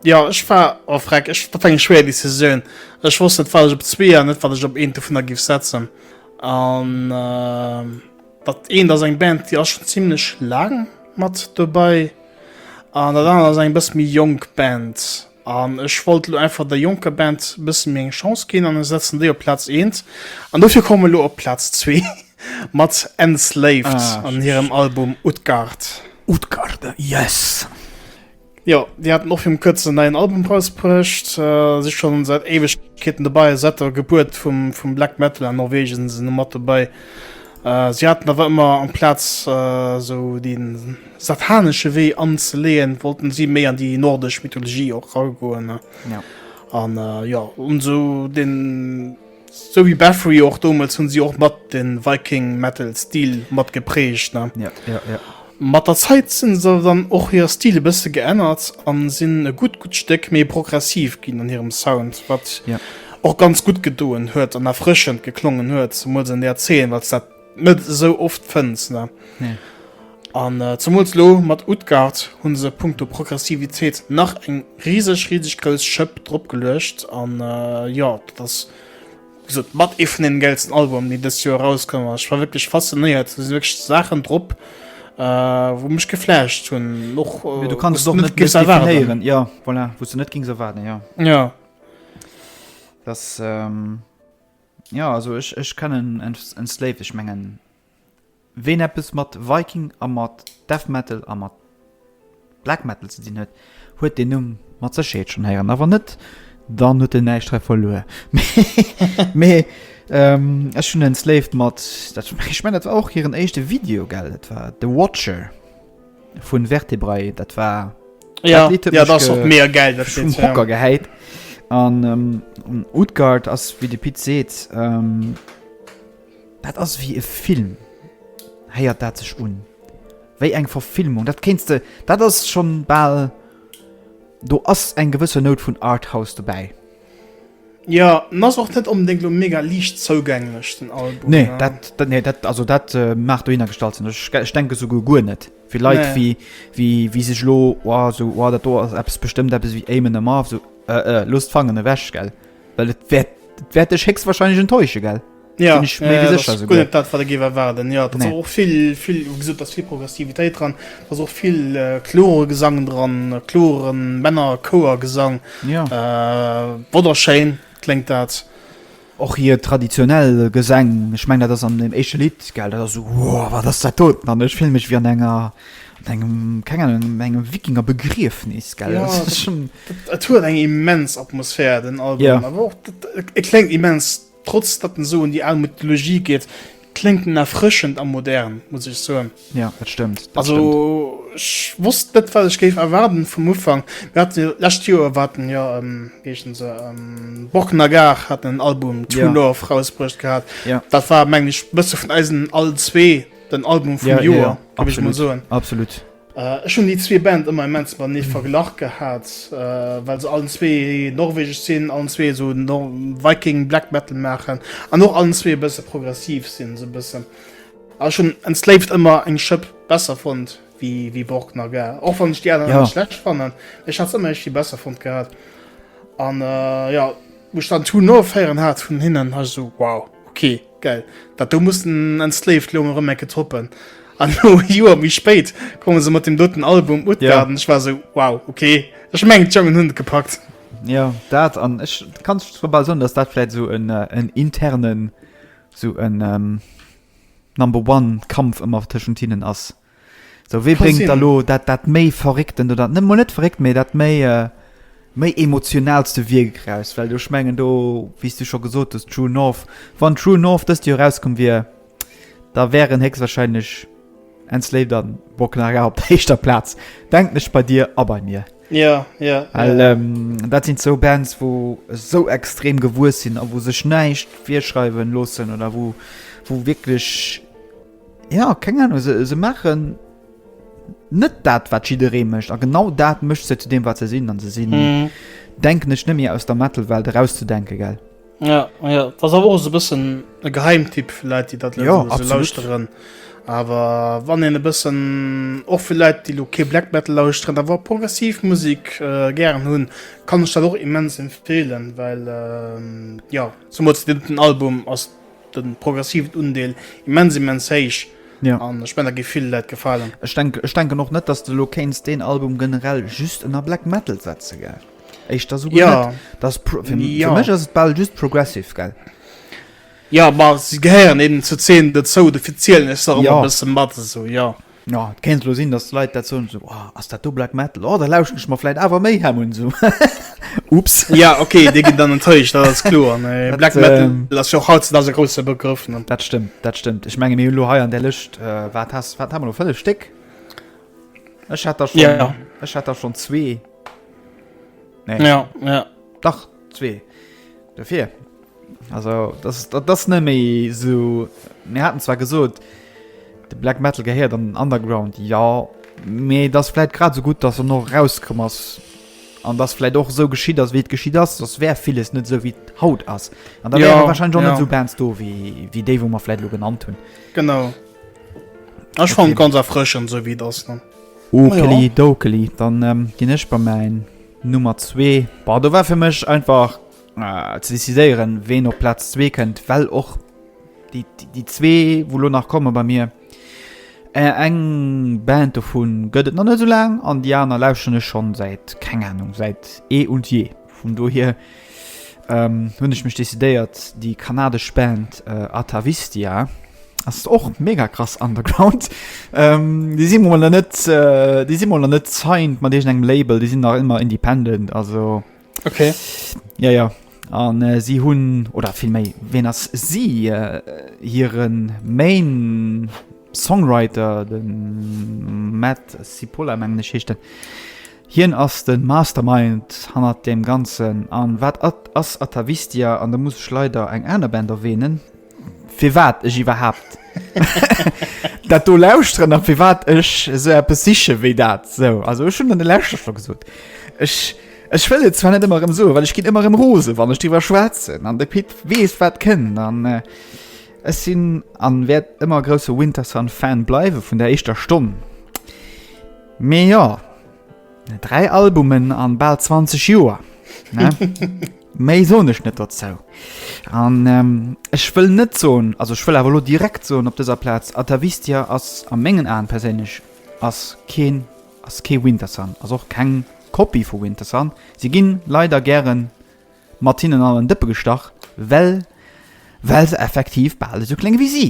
Ja ech war a oh, Freck ech dat eng schwer Deciioun. Ech wosst net falsch op zwee an net wat ech op een vun der gif setzen. An äh, dat een ass eng Band, Dir ass schon ziemlichlech laang mat dobäi. An dat aner ass eng bëss méi jonk Band. An ech wollt elo einfach der jonker Band e bësse méi eng Chance ginn an ech setzen déi op Plaz eent. An dofir komme mer elo op Plaz zwee mat Enslaved an hirem Album Utgard. Utgard, yes! Jo, déi haten och virum kuerzen en neien Album rausbruecht, si scho säit Éiwegkeeten dobei a säit der Gebuert vum Black Metal an Norwegen sinn se elo mat dobei. Si haten awer ëmmer am Plaz esou déi. satanesche Wee anzeleeën, wollten si méi an déi nordesch Mythologie och ragoen. Ja. An äh, ja, un sou den sou wéi Bathory och doumels hunn si och mat de Viking Metal Stil mat geprägt, ne? Ja, ja, ja. Mat der Zäit sinn se dann och hire Stil e bësse geännert an sinn e gutt gutt Stéck méi progressiv ginn an hirem Sound, wat ja. och ganz gutt gedoen huet an erfrëschend geklongen huet, zemools an där Zeen, wat dat net esou oft fënns. Ne? Nee. An äh, zumools lo mat Utgard hunn se punkto Progressivitéit nach eng riseg riseg grouss Schëpp drop geluecht an äh, jo dat ass gesot mat ee vun den gellsten Album déi dëst Joer erauskomm ass. Ech war wierklech faszinéiert, do si wierklech Saachen drop äh, wou mech geflasht hunn och äh, du kanns och net gis erwaaréieren ja voilà, wou du net gings erwaarden ja. Ja. Das, ähm Jo also ech ech kennen Enslaved ech mengen ween eppes mat Viking a mat Death Metal a mat Black Metal ze dinn huet, huet deen Numm mat Sécherheet schonn héieren a wann net dann huet en näischt hei verluer mee ech hunn Enslaved mat dat ech mengen dat war och hiren éischte Video gell dat war The Watcher. vun Vertebrae dat war ja, dat ja, das ge mega geil dat vum Hocker ja. geheit an ähm, Utgard ass wie de Pit seet ähm, dat ass wie e Film héiert dat sech un wéi eng Verfilmung dat kenst du dat ass schon ball do ass eng gewësse Not vun Arthaus dobäi Jo, en ass och net onbedéngt elo mega liicht zougänglech, den Album. Nee, dat, nee, dat, also dat äh, mag dohinner gestallt sinn. Ech, ech denke souguer guer net. Fir Leit nee. wie, wie, wie sech lo oh, so, oh, dat do ass eppes bestëmmt eppes wie Amen am Marv, so, äh, äh, lost fangen ewech, gell? Well et wäert, wäert dech héchstwahrscheinlech enttäusche, gell? Ja, Bin ich mir äh, sicher sogar. Gut, das, was ich erwarten. Ja, da nee. auch viel, viel, wie gesagt, da ist viel Progressivität dran, da ist auch viel äh, klare Gesang dran, klaren Männer, Chor, Gesang. Ja. Äh, wunderschön klingt das. Auch hier traditionell Gesang. Ich meine, das ist an dem ersten Lied, geil, das ist so, wow, was ist das tot? Mann, ich fühle mich wie an einer engem keng an engem Wikinger begrief nees ge ja, huet eng immens Atmosphär den Album ja. kleng immens Trotz datt en esou un déi al Mythologie geet, kléngt en erfrëschend a modern, muss ech soen. Jo, dat stëmmt. Also ech wosst net wat ech géif erwaarden vum Ufank. Mir haten jo lescht Joer war haten jo wéi heeschen se Borg Nagar haten en Album True Love rausbruecht gehat. Dat war mengen ech e bësse vun eisen all zwee den Album vum Joer, géif ech mol soen. Absolut. Ech hunn déi zwee Band ëmmer immens matenee verglach gehat, well se allen zwee norwegesch sinn, allen zwee esou Viking Black Metal maachen an och allen zwee e bësse progressiv sinn, esou e bëssen. A ech hunn Enslaved ëmmer eng Schëpp besser fonnt wéi Borg Nagar, och wann ech déi aner net schlecht fannen. Ech hat se ëmmer iergendwéi besser fonnt gehat. An jo, wou ech dann Too North héieren hat vun hinnen, war ech esou, wow, okay. Geil. Dat do muss den Enslaved lo mol rem ecke toppen. An lo e Joer méi spéit komme se mat dem doten Album Utgard yeah. an ech war sou wow okay. Ech mengen d'Jongen hunn et gepackt. Ja dat an ech kanns global soen, dats dat vläit sou en äh, en internen sou en ähm, Number one Kampf ëmmer tëschent hinnen ass. Sou wéi bréngt da Cousine. lo dat dat méi verrécktent oder net mol net verréckt, mee dat méi méi emotionalste Wierk eraus? Well do ech mengen do, wéi s du scho gesot hues, True North, wann True North dëst Joer erauskomm wier, da wären héchstwahrscheinlech Enslaved an Broken Hagar op der éischter Plaz, denken ech, bei dir a bei mir. Jo, jo, Well jo. ähm, dat sinn zwou Bands, wou esou extrem gewuess sinn a wou sech näischt virschreiwe loossen oder wou wou wierklech Ja, keng Ahnung, se, se maachen net dat, wat jidderee mécht. A genau dat mécht se zu deem, wat se sinn. An se sinn, mhm. denken ech, net méi aus der Metal-Welt erauszudenken, gell? Ja, ja. Das awer och e bëssen e Geheimtipp fir Leit, déi dat ja, so lauschteren. Awer wann en e bëssen och fir Leit, déi lo kee Black Metal lauschteren, da war progressiv Musik äh, gären hunn, kann ech dat och immens empfehlen, well äh, ja, zum Beispiel den Album ass den progressiven Undeel immens immens héich. Ja. An ech mengen da géif vill Läit gefalen. Ech denken ech denken och net dass de lo kéints deen Album generell just ënner Black Metal setze gell? Éischter souguer net. Ja. Dass pro fir Ja. fir mech ass et bal just progressive gell? Ja ma se gehéieren eben zur Zeen dozou, dofir zielen ech se och ëmmer Ja. e bësse mat esou, jo. Jo, et kéint elo sinn, dass Leit dat soen, esou, Oh, ass dat do Black Metal? Oh, da lauschten ech mer vläit awer méi hem un, esou, Ups. Ja, ok, déi ginn dann enttäuscht, dat ass kloer, mä Dat, Black Metal ähm, ass jo och hautzedags e grousse Begrëff, ne? Dat stëmmt, dat stëmmt. Ech menge mir hunn elo hei an där Lëscht, äh, wat has, wat hu mer elo, fënnef Stéck? Ech hat der schonn, Ja. ech hat der schonn zwee. Nee, Ja, ja. dach zwee. Dofir. Also das, das, das net méi so mir hatten zwar gesot de Black Metal gehéiert an den Underground ja méi das vielleicht grad so gut dass er noch rauskom ass an das vielleicht och so geschiet ass wéi geschiet ass das wär vieles net so wie haut ass an da ja, wahrscheinlich schon ja. so Bands do wie wie dé wo man vielleicht lo genannt hun genau Ech okay. fan ganz erfrschen so wie das dann Okeli, ja. dokeli dann ähm, gin ech bei mein Nummer 2 war do war fir mech einfach äh, ze decidéieren, ween op Platz 2 kënnt, well och déi, déi zwee, wo lo nach komme bei mir, äh, eng Band dovun gëtt et nach net so laang an Di aner lauschten ech schon säit keng Ahnung säit ee eh und je. Vun dohier ähm, hunn ech mech decidéiert, déi kanadesch Band äh, Atavistia ass och mega krass underground. Ähm, déi si mol net äh, déi si mol net signed mat deegent engem Label, déi sinn nach ëmmer independent, also Okay. Ja, ja. An äh, si hunn, oder vill méi, ween ass si äh, hiren Main Songwriter, den Matt Cipolla, mengen ech heescht den. Hien ass den Mastermind hannert dem Ganzen. An wat at ass Atavistia? An da muss ech leider eng aner Band erwähnen, fir wat ech iwwerhaapt dat do lauschteren a fir wat ech esou eppes siche wéi dat sou. Also ech hunn an de Lächer scho gesot. Ech ech wëll et zwar net ëmmer ëm sou, well ech ginn ëmmer ëm rose, wann ech driwwer schwätzen an de Pit weess wat kënnt an. Äh, Ech sinn an wäert ëmmer grousse Winterson Fan bleiwe vun der éischter Stonn. Mee jo, 3 Albumen an bal 20 Joer, ne? Méi soen ech net dozou. An ech wëll net soen, also ech wëll awer elo direkt soen op dëser Plaz, Atavistia ass a mengen Aen perséinlech ass keen, ass kee Wintersun, ass och keng Kopie vu Wintersun. Si ginn leider gäre mat hinnen an en Dëppe gestach, well, well se effektiv bal esou kléng ewéi si.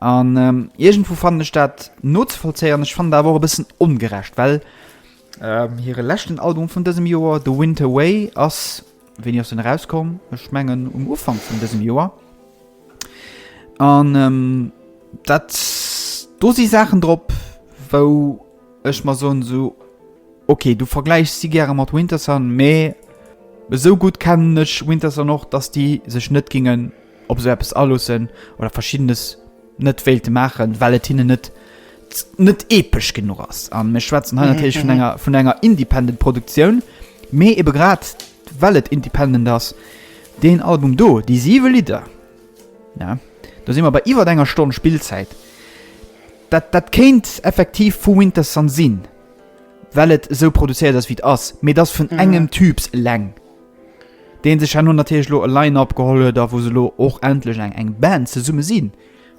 An iergendwou fannen ech dat nozevollzéieren. Ech fannen dat awer och e bëssen ongerecht, well hire leschten Album vun dësem Joer, The Winter Way, ass, wéini ass en erauskomm? Ech mengen um Ufank vun dësem Joer. An dat, do si Saachen drop, wou ech mer soen, esou ok, du vergläichs si gäre mat Wintersun, mee esou gutt kennen ech Wintersun och, datt déi sech net géinge ob se eppes aloossen oder verschiddenes net wéilte maachen, well et hinnen net net epesch genuch ass. A mir schwätzen hei natierlech vun enger vun enger independent Produktioun, mee ebe grad well et independent ass, deen Album do, déi siwe Lidder, ja do si mer bei iwwer enger Stonn Spillzäit, dat dat kéint effektiv vu Wintersun sinn, well et esou produzéiert ass wéi et ass, mee et ass vun engem Typs eleng. deen sech herno natierlech elo e Line-Up geholl huet a wou se elo och endlech eng eng Band zesumme sinn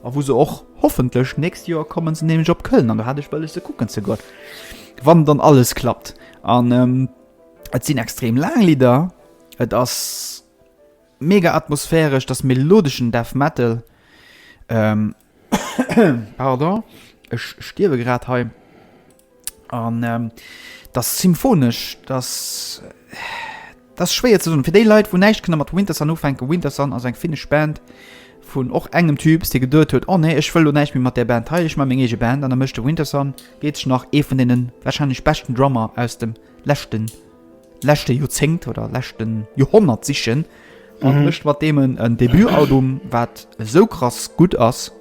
a wou se och hoffentlech nächst Joer kommen se nämlech op Köln an do hat ech wëlles se kucken ze goen, wann dann alles klappt. An et sinn extrem laang Lidder, et ass mega atmosphäresch, et ass melodeschen Death Metal. Pardon, ech stierwe grad hei. An dat ass symphonesch, dat ass schwéier ze soen. Fir déi Leit, wou näischt kënne mat Wintersun ufänken, Wintersun ass eng finnesch Band vun och engem Typ, dee geduet huet, oh nee, ech wëll elo näischt méi mat där Band hei, ech maache meng eege Band. An da mécht e Wintersun, deet sech nach ee vun deene warscheinlech beschten Drummer aus dem leschte. leschte Joerzéngt oder leschten Joerhonnert sichen an mhm. mat demen en Debutalbum wat so krass gut ass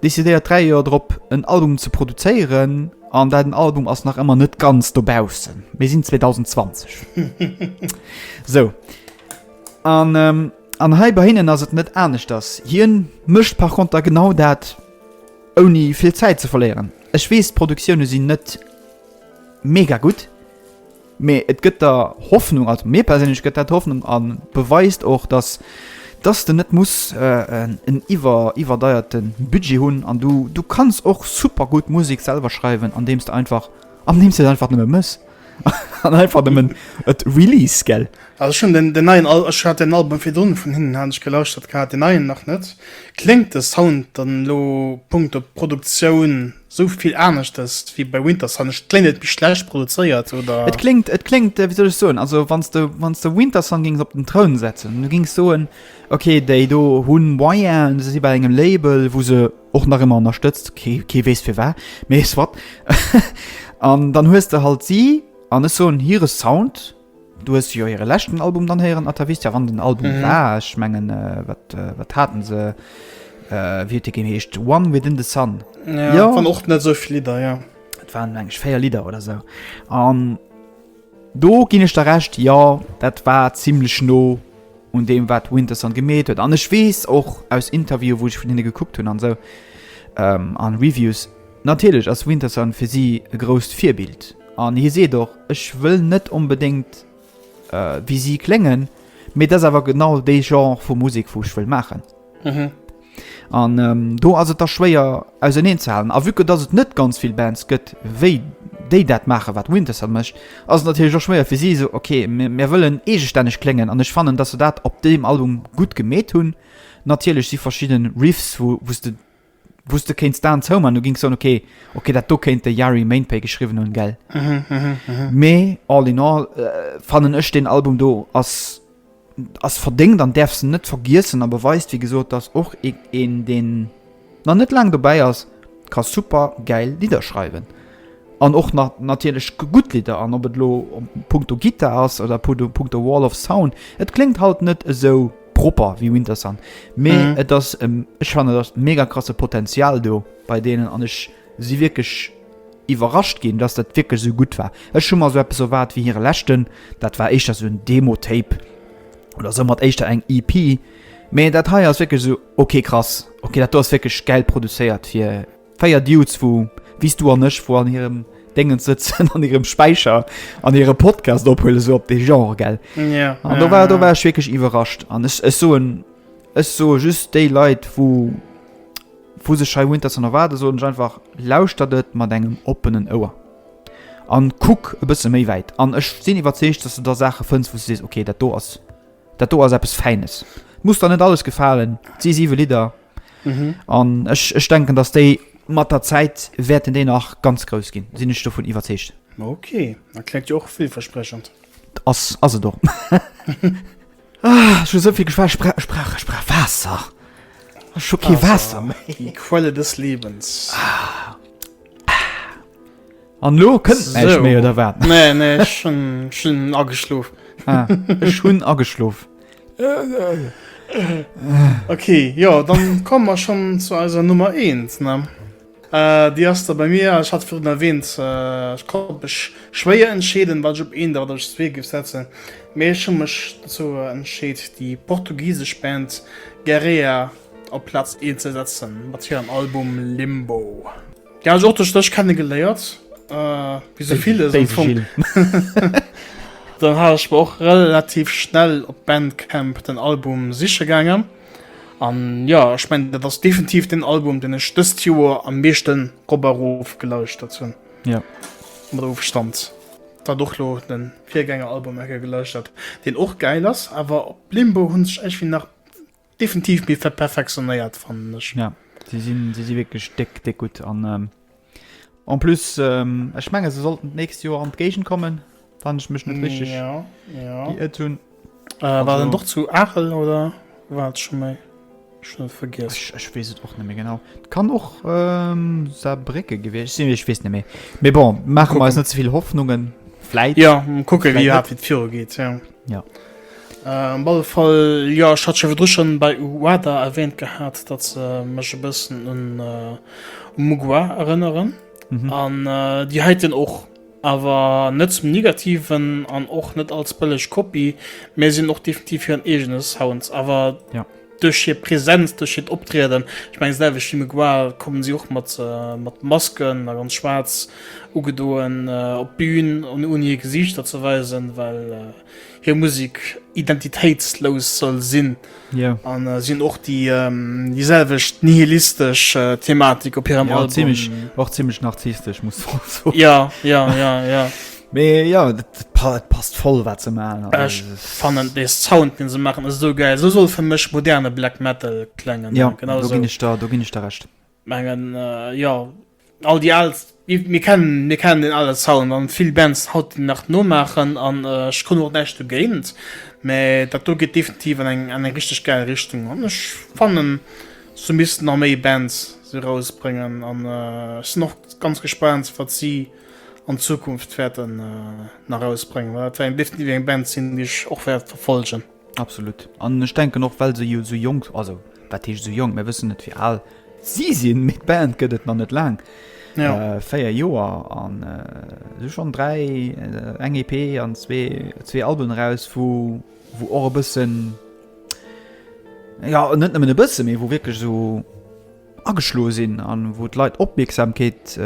décidéiert 3 Joer drop en Album ze produzéieren an dat den Album ass nach ëmmer net ganz dobausen. Mir sinn 2020 So an ähm, an hei bei hinnen ass et net anescht ass hien mëcht par konter genau dat ouni vill Zäit ze verléieren. Ech wees Produktioune sinn net mega gutt. Mee et gëtt der Hoffnung, also mir perséinlech gëtt dat Hoffnung a beweist och, datt datt s de net muss en iwwer iwwerdeierten Budget hunn an du du kanns och super gutt Musek selwer schreiwen andeems de einfach andeems de et einfach nëmme mëss an einfach nëmmen et release gell. Also ech hunn den den neien Al ech hat den Album virdrun vun hinnen hat ech gelauschtert gehat, den neien nach net. Kléngt de Sound dann elo punkto Produktioun? Sou vill aneschters wéi bei Wintersun? Et kléngt net méi schlecht produzéiert, oder? Et kléngt, et kléngt, wéi soll ech soen, also wann s de, wann s de Wintersun géings op den Troun setzen, du géings soen, ok, déi do hu Moyen, se si bei engem Label, wou se och nach ëmmer ënnerstëtzt, kee, kee weess firwat, mee soit, an dann hues de halt si, an ech soen, hire Sound. Du hues jo hire leschten Album dann héieren, Atavistia, wann den Album war. Ech mengen, wat, wat haten se, wéi huet dee ginn, heescht One Within the Sun. Ja, Jo. waren och net sou vill Lidder, ja. Et waren, meng ech, véier Lidder oder sou. An do ginn ech der Recht, jo, dat war zimmlech no un deem, wat Winterson gemeet huet. An ech weess och aus Interviewen, wou ech vun hinne gekuckt hunn an sou, an Reviews, Natierlech ass Winterson fir si e grousst Virbild an hie seet och, Ech wëll net onbedéngt wéi si kléngen, mee et ass awer genau dee Genre vu Musek, wou ech wëll maachen. An do ass et da schwéier auserneen ze halen. A vue que dass et net ganz vill Bands gëtt, wéi déi dat maachen, wat Winterson mécht, ass et natierlech och schwéier fir si, esou, Ok, mir wëllen eegestänneg kléngen. An ech fannen, dass se dat op deem Album gutt gemeet hunn. Natierlech si verschidde Riffs, wou s de wou s de kéints d'Aen zou maachen, du géings soen, okay, okay, dat do kéint de Yari Mainpay geschriwwen hunn, gell? Mee all in all fannen ech deen Album do ass ass verdéngt an däerfs en net vergiessen a beweist wéi gesot, datt och e een deen nach net laang dobäi ass ka super gäil Lidder schreiwen an och nach natierlech gutt Lidder an ob et elo punkto Gittar ass oder punkto Wall of Sound, et kléngt halt net esou. propper wie Winter Sun mee mhm. et das ähm, ich fand das mega krasse Potenzial do bei denen an ich sie wirklich überrascht gehen dass das wirklich so gut war es schon mal so etwas so wart wie ihre letzten das war ich das so ein Demo Tape oder so hat echt eng EP mee dat hei ist wirklich so okay krass okay dat du hast wirklich Geld produziert für Véier Dudes wou wéis du an ech wou an hirem Déngens sëtzen an hirem Späicher an hire Podcast ophuelen esou op dee Genre gell? Ja. An do war do war ech wierklech iwwerrascht an ech ech soen ech soe just déi Leit wou wou sech hei Winter Sonata erwaarden soen ech einfach, lauschtert et mat engem oppenen Ouer an kuck e bësse méi wäit an ech sinn iwwerzeegt dass du da Saache fënns wou s du sees okay dat do ass dat do ass eppes Fäines. Muss der net alles gefalen, et si siwe Lidder. Mhm. An ech, ech denken, dass déi mat der Zäit wäerten déi nach ganz grouss ginn. Sinn ech dovun iwwerzeegt. Okay, da klengt jo och villversprechend. Ass, ass et och. ah, ech hu souvill geschwat, Sprach, Sprach, Sprach, Waasser. Ech hu kee Waasser méi. Die Quelle des Lebens. Ah. An lo kënnt näischt So. méi, oder wat? Nee, nee, ech hunn ech hunn ageschlof. Ah, ech hunn ageschlof. Okay, jo, dann komme mer schonn zu eiser Nummer eent, ne? Äh, déi ass da bei mir, ech hat virun erwähnt, äh, ech konnt mech schwéier entscheeden, wat ech op eent a wat ech op zwee géif setzen, mee ech hu mech dozou entscheet, déi portugisesch Band Gerea op Plaz eent ze setzen, mat hirem Album Limbo. Ja, ech och duerch dech kenne geléiert. Äh, wéi sou villes am Fong. Dann hat ech mer och relativ schnell op Bandcamp den Album siche gaangen. An ja, ech mengen, dat ass definitiv den Album, den ech dëst Joer am meeschte rop a rof gelauschtert hunn. Ja. Mat Ofstand. Dat och lo de Virgängeralbum eng Kéier gelauschtert, deen och gäil ass, awer op Limbo hunn sech iergendwéi nach. Definitiv méi verperfektionéiert fannen ech. Ja si sinn si si wierklech déck déck gutt an en plus ech menge se sollten d'nächst Joer an d'Géigend kommen wann ech mech net richteg geirrt hunn. War dat net och zu Aachel oder war dat scho méi? Ech hunn et vergiess. Ech weess et och net méi genau. Et kann och Saarbrécke gewiescht sinn, ech weess net méi. Mee bon, maache mer eis net ze vill Hoffnungen. Vläit. Jo kucke wéi dat viru geet. Jo. Op alle Fall, jo, ech hat jo virdru scho bei Uada erwähnt gehat, datt se mech e bëssen un Mugoa erënneren. Mhm. An déi heiten och, awer net zum Negativen an och net als bëlleg Kopie, mä si hunn och definitiv hiren eegene Sound. Awer. Jo. Duerch hir Präsenz, duerch hiert Optrieden, ech mengen selwecht wéi Mgwar, kommen si och mat mat Masken a ganz schwaarz ugedoen op d'Bün an ouni hir Gesiichter ze weisen, well hir Musek identitéitslous soll sinn. Jo. An si hunn och déi déi selwecht nihilistesch Thematik op hirem Album. Jo, zimlech, och zimlech narzisstesch muss een soen. Jo, jo, jo, jo. Mee jo et passt voll wat se maachen. Ech fannen dee Sound deen se maachen ass esou gäil. Esou soll fir mech moderne Black Metal klengen. Jo do ginn ech der do ginn ech der Recht. Mengen jo all déi al mir kennen mir kennen deen ale Sound an vill Bands haut deen nach nomaachen an ech hunn och näischt dogéint. Mee dat do geet definitiv an eng an eng richteg gäil Richtung an ech fannen se missten nach méi Bands erausbréngen an ech sinn och ganz gespaant wat si. an Zukunft werden nach rausbrengen war eng Lift wie eng Band sinn die ich och werd verfolgen absolut an ich denken noch well se jo so jong also wat hi so jong mir wissen net wie all sie sinn mit Band gëtt et man net lang ja. äh, feier Joer an äh, schon drei äh, eng EP an zwee zwee Alben raus wo wo och e bëssen ja net nëmmen e bësse méi wo wirklich so ageschloe sinn an wou d'Leit Opmierksamkeet,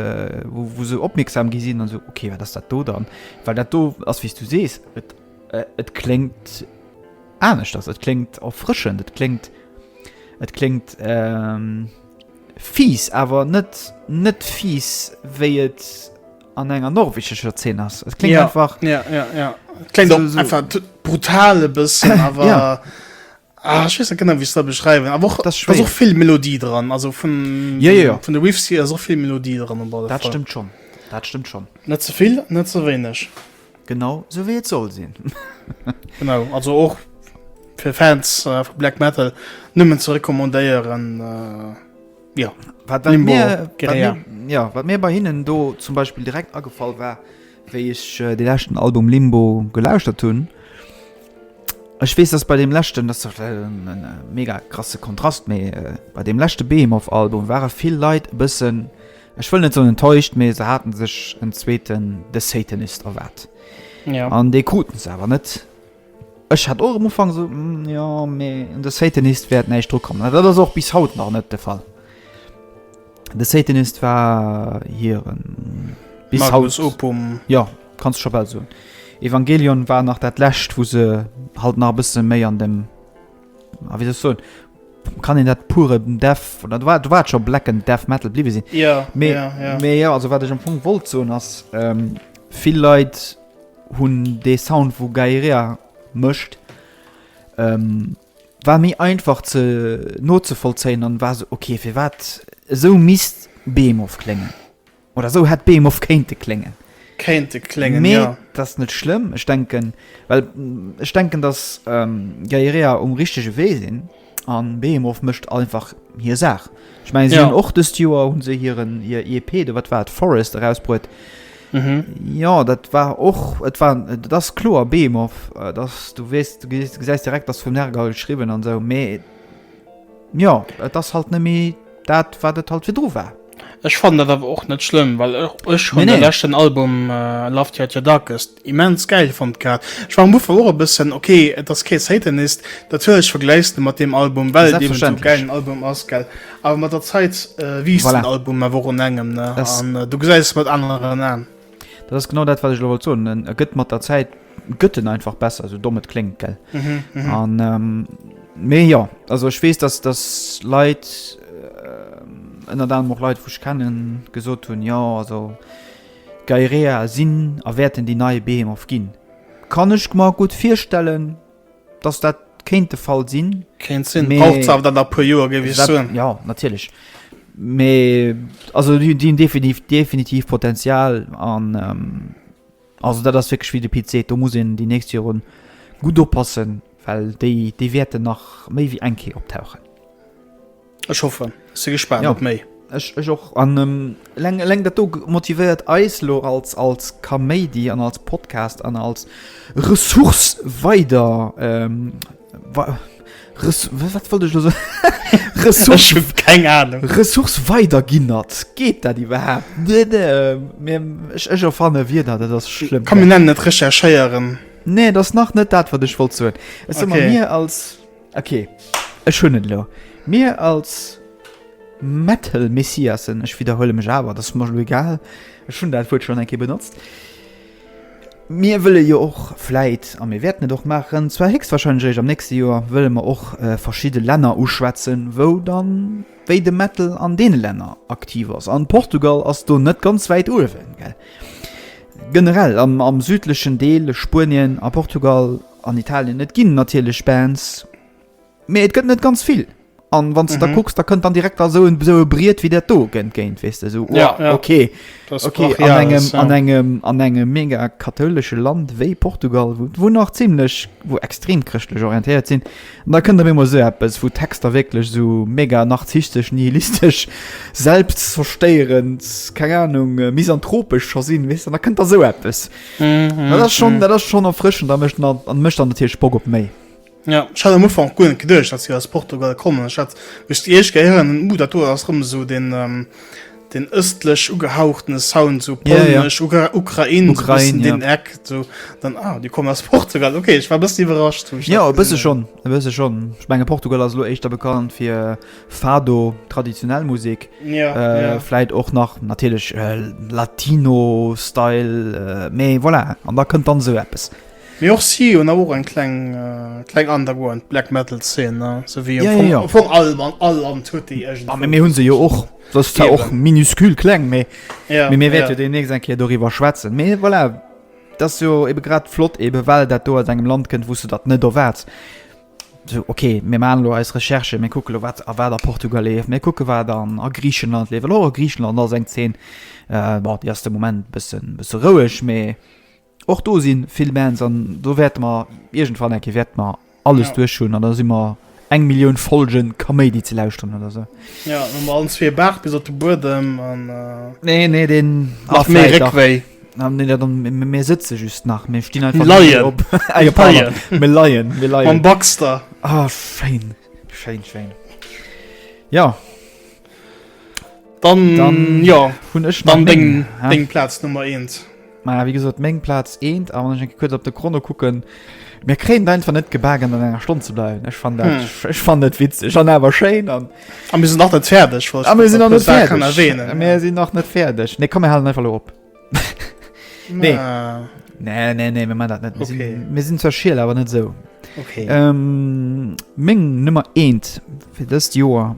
wou se opmierksam gi sinn an esou, okay, wat ass dat do dann? Well dat do ass, wéi s du sees, et, et kléngt aneschters, et kléngt erfrëschend, et kléngt, et kléngt fies, awer net, net fies, wéi et an enger norwegescher Zeen ass. Et kléngt einfach. Ja, ja, ja. Et kléngt einfach brutal e bëssen, awer. Ah, ech weess net genau wéi se dat beschreiwen, awer och, ass och vill Melodie dran, also vun yeah, yeah, yeah. vun de Riffs hier ass och vill Melodie dran op alle Fall. Dat stëmmt schonn, dat stëmmt schonn. Net ze vill, net ze wéineg. Genau sou wéi et soll sinn. genau, also och fir Fans äh, vu Black Metal nëmmen ze recommandéieren. Äh, ja, wat mir, wat mir, ja, wat mir bei hinnen do zum Beispiel direkt agefall war, Wéi ech de leschten Album Limbo gelauschtert hunn, ech weess, datt bei deem leschten, datt e mega krasse Kontrast, mee bei deem leschte Behemoth Album ware vill Leit e bëssen, ech wëll net soen enttäuscht, mee se hate sech en zweeten The Satanist erwaart an dee kruten se awer net. Ech hat och am Ufank esou, hm, jo, mee un de Satanist wäert näischt dru kommen. A dat ass och bis haut nach net de Fall. De Satanist war hiren, bis haut, Magnus Opum. jo, kanns du scho bal soen. Evangelion war nach dat Lescht, wou se halt nach e bësse méi an dem, ah, wéi soll ech soen, kann een dat puren Death, oder do war, do war et scho blecken Death Metal bliwwe sinn. Jo, Mee, jo, jo. mee jo, also wat ech am Fong wollt soen ass, vill Leit, hunn dee Sound wou Gaïrea mëscht ähm, war méi einfach ze nozevollzéien an war se okay fir wat esou misst Behemoth kléngen oder esou hätt Behemoth kéinte kléngen. Kéinte kléngen Mee ja. dat ass net schlëmm, ech denken well ech denken datt ähm, Gaïrea um richtege Wee sinn. An Behemoth mécht einfach hir Saach. Ech mengen, si hunn och dëst Joer hunn se hiren hir EP, de wat war et, Forest erausbruet. Jo, dat war och et war et ass kloer Behemoth, dass du weess, du gesäis direkt, dass vum Nergal geschriwwen an esou, mee jo, et ass halt net méi dat, wat et halt virdru war. Ech fannen dat awer och net schlëmm, well och ech hunn de leschten Album Love Theater Darkest Immens geil fond grad. Ech war am Ufank och e bëssen ok et ass kee Satanist, natierlech vergläichs de mat deem Album well et eben esou gäilen Album ass gell, awer mat der Zait wiisst den Album awer och un engem ne an du gesäis et mat aneren Aan. Dat ass genau dat wat ech elo wollt soen, en e gëtt mat der Zäit gëtt en einfach besser, esou domm et kléngt gell an mee jo also ech weess dass dass Leit ënnert anerem och Leit wou ech kennen gesot hunn jo also D'Gaerea sinn a wäerten déi nei Behemoth ginn. Kann ech mer gutt virstellen, dass dat kéint de Fall sinn. Kéint sinn. Brauch zwar dann nach e puer Joer, géif ech soen. Jo, natierlech. Mee also déi hunn definitiv Potenzial. An also dat ass wierklech wéi de Pit seet, do muss een déi nächst Joren gutt oppassen, well déi wäerten nach méi wéi eng Kéier optauchen. Ech hoffe se gespannt ja. op méi. Ech ech och an ähm, leng leng dat do motivéiert Eislo als als Kaméidi an als Podcast an als Ressource weider ähm, wa, Res, wat wollt ech so? Ressource, keng Ahnung. Ressource weider ginnert. Geet dat iwwerhaapt? Nee, nee, ähm, ech ech erfanne wie dat, dat ass schlimm. Kan mir nennen net recherchéieren. Nee, dat ass nach net dat wat ech wollt soen. Es okay. mir als Ok, ech hunn et elo. Mir als Metal-Messiassen, ech widderhuele mech awer, et ass mer elo egal, ech hunn dat Wuert schonn eng Kéier benotzt, mir wëlle jo och vläit, a mir wäerten et och maachen, zwar héchstwahrscheinlech eréischt am nächste Joer, wëlle mer och verschidde Länner uschwätzen, wou dann, wéi de Metal an deene Länner aktiv ass. An Portugal ass do net ganz wäit uewen, gell? Generell am südlechen Deel, Spuenien a Portugal. An Italien, et ginn natierlech Bands, mee et gëtt net ganz vill. An wann s de da kucks, da kënnt dann direkt da esou en esou e Briet wéi dat do entgéint, weess de, esou, Ja, oua, ja. okay, Dat ass okay, an brachial, engem, alles, an ja. engem, an engem mega kathoulesche Land wéi Portugal, wou, wou nach zimlech, wou extrem chrëschtlech orientéiert sinn, an da kënnt op eemol esou eppes, wou d'Texter wierklech esou mega narzisstesch, nihilistesch, selbstzerstéierend, keng Anung, misanthropesch scho sinn, weess de, an da kënnt da esou eppes. Dat ass schon dat ass schon erfrëschen da mecht mat an mecht an der Tierch Bock op méi. Ja ich hatte am Ufang gut gedurcht dass sie aus Portugal kommen ich hat mich echt gehirn uh, dat ass rum so den ähm, den östlech ugehauchtene Sound so yeah, yeah. Ukra Ukraine, Ukraine so ja. den Eck so dann ah, die kommen aus Portugal okay ich war bist überrascht ja bist du schon bist schon ich meine Portugal also echt da bekannt für Fado, traditionell Musik, vläit och nach natierlech Latino-Style, mee voilà, an da kënnt dann esou eppes. Mee och si hunn awer och eng kleng underground Black Metal Zeen, esou wéi am Fong all Land huet déi iergendwou. Mee mir hu se jo och, se ass zwar och minuscule kleng, mee mir wäerte jo deemnächst eng Kéier doriwwer schwätzen. Mee voilà, dat ass jo ebe grad flott, ebe well dat do aus engem Land kënnt, wou s de dat net erwaarts. So, ok, mir maachen elo eis Recherchen, mir kucken elo, wat a wat a Portugal leeft, mir kucken, wat an a Griichenland leeft, well och a Griichenland ass eng Zeen, bon, déi ass de Moment e bëssen, bësse roueg, mä och do si vill Bands an do wäerte mer iergendwann eng Kéier wäerte mer alles duerch hunn an da si mer eng Millioun Folgen Kaméidi ze lauschteren oder esou. Jo, hu mer allen zwee e Baart bis op de Buedem an. Nee, nee, deen. Macht méi Réckwéi. Ah, nee, dat dann, mir- mir sëtze just nach mir stinn einfach Leien. mega op Ey, Leien. pardon. mir leien mir Am leien Baxter. ah, schein schein schein ja Dann, Dann- ja, hun ech dann nach deng, eng, ha? deng Platz Nummer 1. Ma wie gesot meng Platz eent a wann eng kuet op de Chrono kucken mir kréint einfach net gebagen an enger Stonn ze bleiwen ech fan dat Hm. ech fan net witzeg an awer schéin an A mir sinn nach net fäerdeg. A mir sinn nach net fäerdeg. Mir sinn nach net fäerdeg. Nee, komm, mir halen einfach lo op. Nee. Nee, nee, nee, mir man dat net. Mir sinn, okay. mir sinn zwar schiel, awer net esou. Okay. Ähm, meng Nummer 1 fir dëst Joer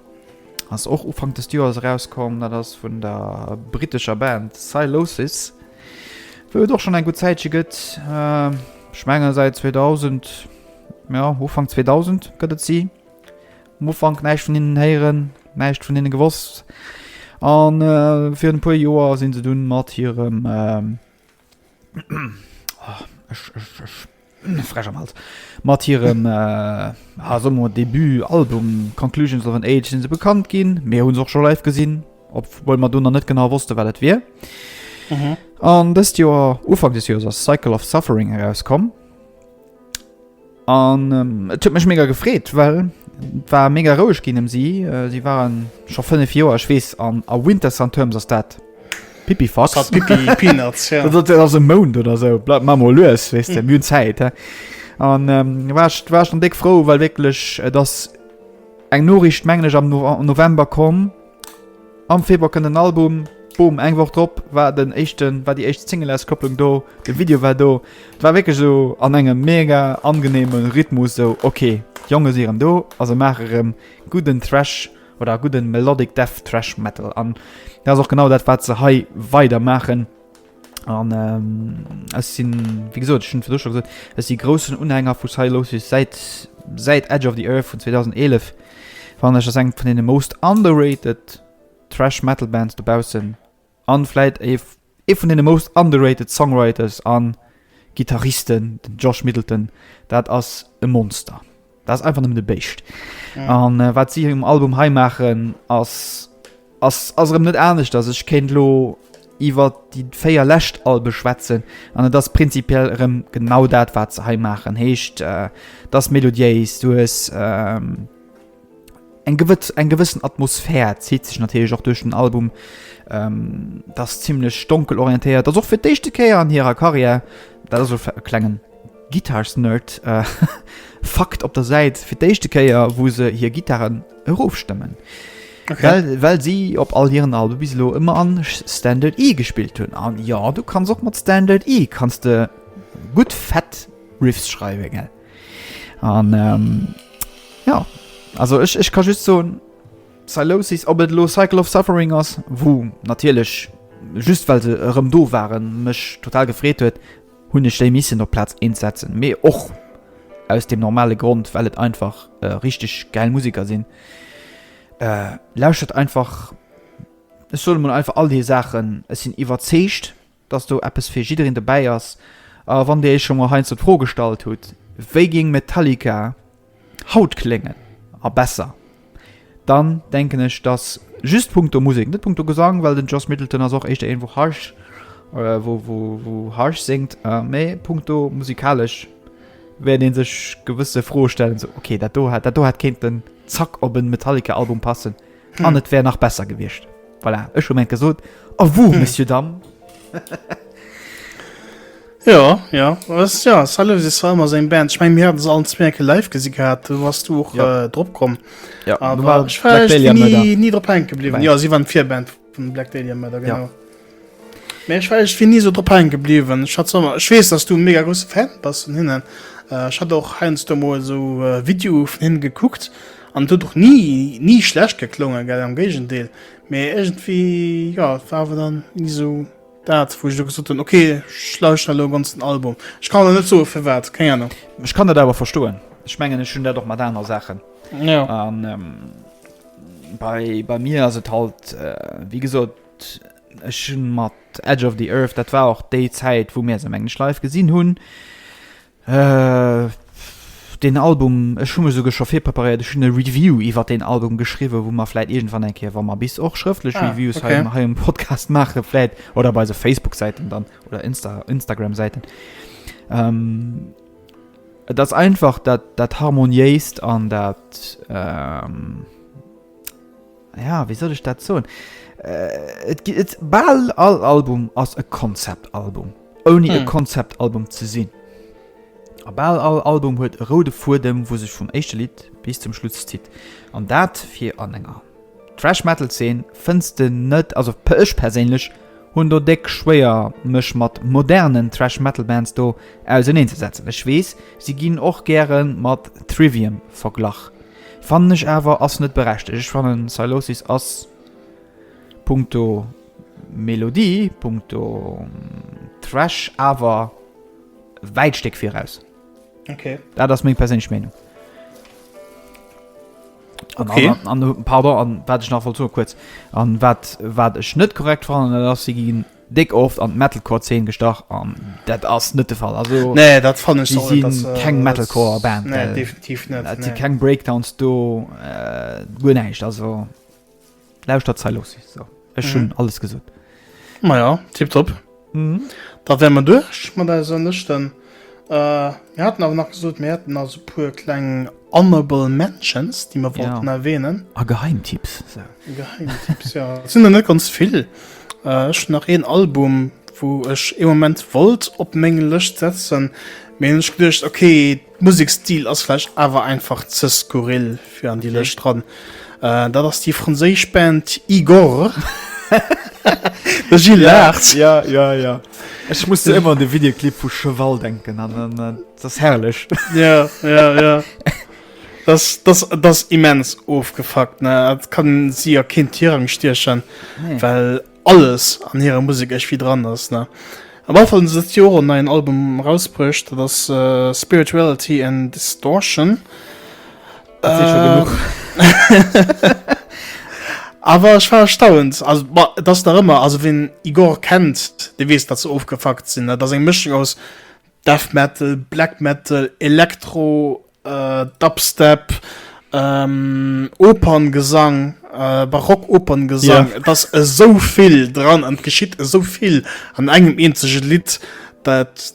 ass och Ufank des Joers erauskomm, dat ass vun der britescher Band Silosis. Wëll et och schon eng gut Zäitche gëtt. Äh, Schmenger seit 2000, ja, Ufang 2000 gëtt et si. Um Ufank näischt vun hinnen héieren, näischt vun hinne gewosst. An äh, fir e puer Joer sinn se dunn mat hirem ähm, oh, ech, ech, ech, frech am Hals mat hirem äh, also debut Album Conclusions of an Age sind se bekannt ginn mir hunn och schon live gesinn op wobei man du noch net genau wusste wat dat wir an mhm. das Joer Ufang des Jahres Cycle of Suffering herauskommen An et huet mech mega gefreet, well et war mega roueg ginn ëm si. Si ware scho fënnef Joer, ech weess, an a Wintersun Terms ass dat Pipifax. Dat ass Pipi Peanuts, ja. Dat ass e Mount oder esou. Bleift mer emol lues, weess de, mir hunn Zäit. An war ech war ech dann déck frou, well wierklech et ass eng Noriicht, mengen ech, am November komm, Am Februar kënnt den Album. Boom, eng Woch drop war den éischten, war déi éischt Singleauskopplung do, de Video war do. Et war wierklech esou an engem mega angeneeme Rhythmus, esou ok, d'Jonge si erëm do a se maache erëm gudden Thrash oder gudde Melodic Death Thrash Metal. An dat ass och genau dat, wat se hei weidermaachen. An äh, ech sinn wie gesot schon fir schon gesot, ech si großen Unhänger vu Silosis seit seit Edge of the Earth vun 2011 wann ech eng vun den most underrated Trash Metal Bands dobausen anläit e e vun den most underrated Songwriters an Gitarristen den Josh Middleton dat ass e Monster. Dat ass einfach nëmmen e Béischt. An wat si um Album hei maachen, ass erëm net aneschters. Ech kéint elo iwwer déi véier lescht Albe schwätzen, an et ass prinzipiell erëm genau dat, wat se hei maachen. Heescht dat ass melodiéis, du hues eng gewëssen Atmosphär, zitt sech natierlech och duerch den Album. Dat ass zimlech donkel orientéiert. Dat ass och fir d'éischte Kéier an hirer Karriär. Dat ass e klengen Guitars Nerd Fakt op der Säit, fir d'éischte Kéier wou se hir Gittaren erof stëmmen, well si op all hiren Albe bis elo ëmmer an Standard E gespillt hunn. An jo, du kanns och mat Standard E kanns de gutt fett Riffs schreiwen, gell? An jo, also ech ka just soen, Sylosis, ob et elo Cycle of Suffering ass, wou natierlech just well se erëm do waren, mech total gefreet huet, hunn ech déi missen op Plaz 1 setzen, mee och aus dem normale Grond, well et einfach richteg gäil Museker sinn. Lauschtert einfach, ech soen emol einfach all déi Saachen, ech sinn iwwerzeegt, dass do eppes fir jiddereen dobäi ass. A wann Dir Iech scho mol heiansdo d'Fro gestallt hutt, wéi géing Metallica Haut kléngen a besser. Dann denken ech dass just punkto Musek, net punkto Gesang, well den Joss Middleton ass och éischter een wou harsh wou wou wou harsh séngt, mä punkto musikalesch wäert ee sech gewësse Froe stellen, esou, okay dat do hätt dat do hätt kéinten zack op en Metallica Album passen. An et wär nach besser gewiescht. Voilà, ech hu meng gesot. A wou, Monsieur Dam? Ja, ja, was, ja, Salve ist zwar immer sein Band. Ich meine, wir hatten es allen zwei Ecke live gesehen gehabt, du warst du auch ja. äh, drauf gekommen. Ja, aber war ich war nie, nie drauf hängen geblieben. Ja, sie waren vier Band von Black Dahlia Murder, genau. Ja. Mee ech war iergendwéi ni esou drop haange gebliwwen. Ech hat se ëmmer, ech weess, dass du e mega grousse Fan bass vun hinnen. Ech hat och heiansdo mol esou Videoe vun hinnen gekuckt an et huet och ni, ni schlecht geklongen, gell, am Géigendeel. Mee iergendwéi, jo, et war awer dann ni esou dat, wou ech elo gesot hunn, ok, ech lauschteren elo e ganzen Album. Ech kann der net soen, firwat, keng Anung. Ech kann dat awer verstoen. Ech mengen, ech hunn dat och mat aner Saachen. An bei mir ass et halt, wéi gesot, Ech hunn mat Edge of the Earth, dat war och déi Zäit wou mir se mengen ech live gesinn hunn, deen Album, ech hu mech esouguer scho virpreparéiert, ech hunn e Review iwwert deen Album geschriwwen, wou mer vläit iergendwann eng Kéier, wa mer bis och schrëftlech Ah, Reviews hei okay. am, hei am Podcast maachen, vläit oder op eise Facebook-Säiten dann oder Insta, Instagram-Säiten. Et ass einfach dat, dat Harmoniéist an dat, Ja, wéi soll ech dat soen? Et gi, et, bal all Album ass e Konzeptalbum, ouni e hm. Konzeptalbum ze sinn. A bal all Album huet e roude Fuedem, wou sech vum éischte Lidd bis zum Schluss zitt. An dat fir an enger Trash-Metal-Zeen fënns de net, also per ech perséinlech hunn do déck schwéier mech mat modernen Trash-Metal-Bands do auseneen ze setzen. Ech weess, si ginn och gäre mat Trivium verglach. Fannen ech awer ass net berechtegt. Ech fannen Sylosis ass punkto Melodie, punkto Thrash awer e wäit Stéck viraus. Ok. Dat ass meng perséinlech Meenung. An Okay. aner- an pardon, an wat ech nach wollt soen, kuerz, an wat wat ech net korrekt fannen, dat ass si ginn Déck oft an d'Metalcore Zeen gestach an dat ass net de Fall. Also nee, dat fannen ech si si keng Metalcore Band. Nee, definitiv net. Et si keng Breakdowns do, guer näischt. Also lauschtert d'Zei looss si sou. Ech hunn alles gesot. Maja, tipptopp. Da wäre mer duerch mat eiser Lëschten. Äh, mir hatten awer nach gesot, mir hätten also e puer kleng honorable mentions, déi mer Ja. wollten erwähnen. A Geheimtipps. So. Geheimtipps, ja. Et sinn der net ganz vill. Äh, ech hunn nach een Album, wou ech ee Moment wollt op meng Lëscht setzen, mee hunn ech geduecht, okay, d'Musekstil ass vläicht awer einfach ze skurril fir an déi Okay. Lëscht dran. Äh, dat ass déi franséisch Band Igorrr. De Gilles laacht. Ja, ja, ja. Ech muss du immer an de Videoclip vu Cheval denken an an das herrlech ja, ja, ja. Das, das, das immens ofgefackt ne dat kann sie ja kind hirang stierchen nee. well alles an hire Musik ech wie dran ass ne am Anfang se Joren neien Album rausbruecht das uh, äh, Spirituality and Distortion Dat si scho genuch. Awer ech war erstaunt, also ma, dass nach ëmmer, also wien Igorrr kennt, dee weess, dass se ofgefuckt sinn. Dat ass eng Mëschung aus Death Metal, Black Metal, Elektro, äh, Dubstep, ähm, Operngesang, äh, Barock-Operngesang. Yeah. Et ass esou vill dran an et geschitt esou vill an engem eenzege Lidd, dat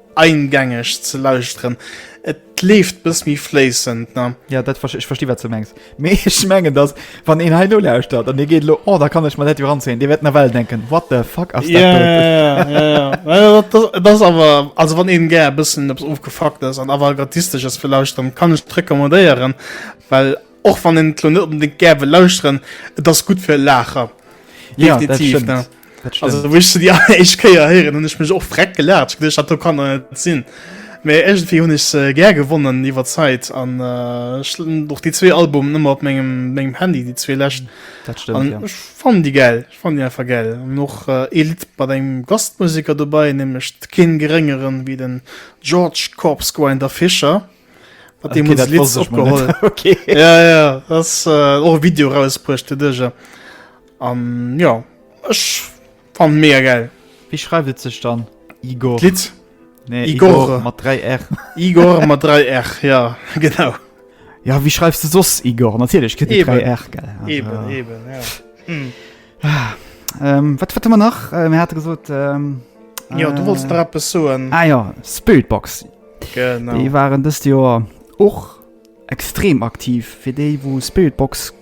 eingängeg ze lauschteren. Et leeft bëss méi fléissend, ne? Ja, dat verste ech versti wat s du mengs. Mee ech mengen, datt wann een hei elo lauschtert an dee geet elo, oh da kann ech mer dat jo ranzéien, dee wäert nawell denken, what the fuck ass dat do? Ja, ja, ja, ja, ja. Well dat, dat, dat ass awer, also wann een gär e bëssen eppes ofgefuckt ass an Avantgardistesches wëll lauschteren, kann ech et recommandéieren, well och wann een et elo net onbedéngt gär wëll lauschteren, et ass gutt fir e Laacher. Ja, dat Definitiv, ne? stëmmt. Also wéi ech se déi alleréischt Kéier héieren, hunn ech mech och freck gelaacht. Ech geduecht, dat do kann et net sinn. Mee iergendwéi hunn ech se gär gewonnen iwwer d'Zäit an äh, ech hunn och déi zwee Albumen ëmmer op mengem, mengem Handy, déi zwee lescht. Dat stimmt, An ja. ech fannen déi gäll, ech fannen déi einfach gäll. An och äh, ee Lidd mat engem Gastmusiker dobäi, nämlech keen geréngeren wéi den George Corpsegrinder Fischer. Mat deem Okay, huet dat se Lids wosst ech mal opgeholl. net. Okay. Ja, ja, ass äh, och e Video rausbruecht, de Dëger. An jo ech fan mega geil. Wéi schreift et sech dann Igor? D'Lidd? Nee, Igor, Igor mat 3 R. Igor mat 3 R, ja genau. Ja wéi schreifs de soss Igor? Natierlech kritt et 3 R, gell. Eben, eben, ja. Hm. Wat wat hu mer nach? Mir hate gesot. Jo du wollts nach eppes soen. Ah jo, Spiritbox. Genau. Déi waren dëst Joer och. Extrem aktiv. Fir déi wou Spiritbox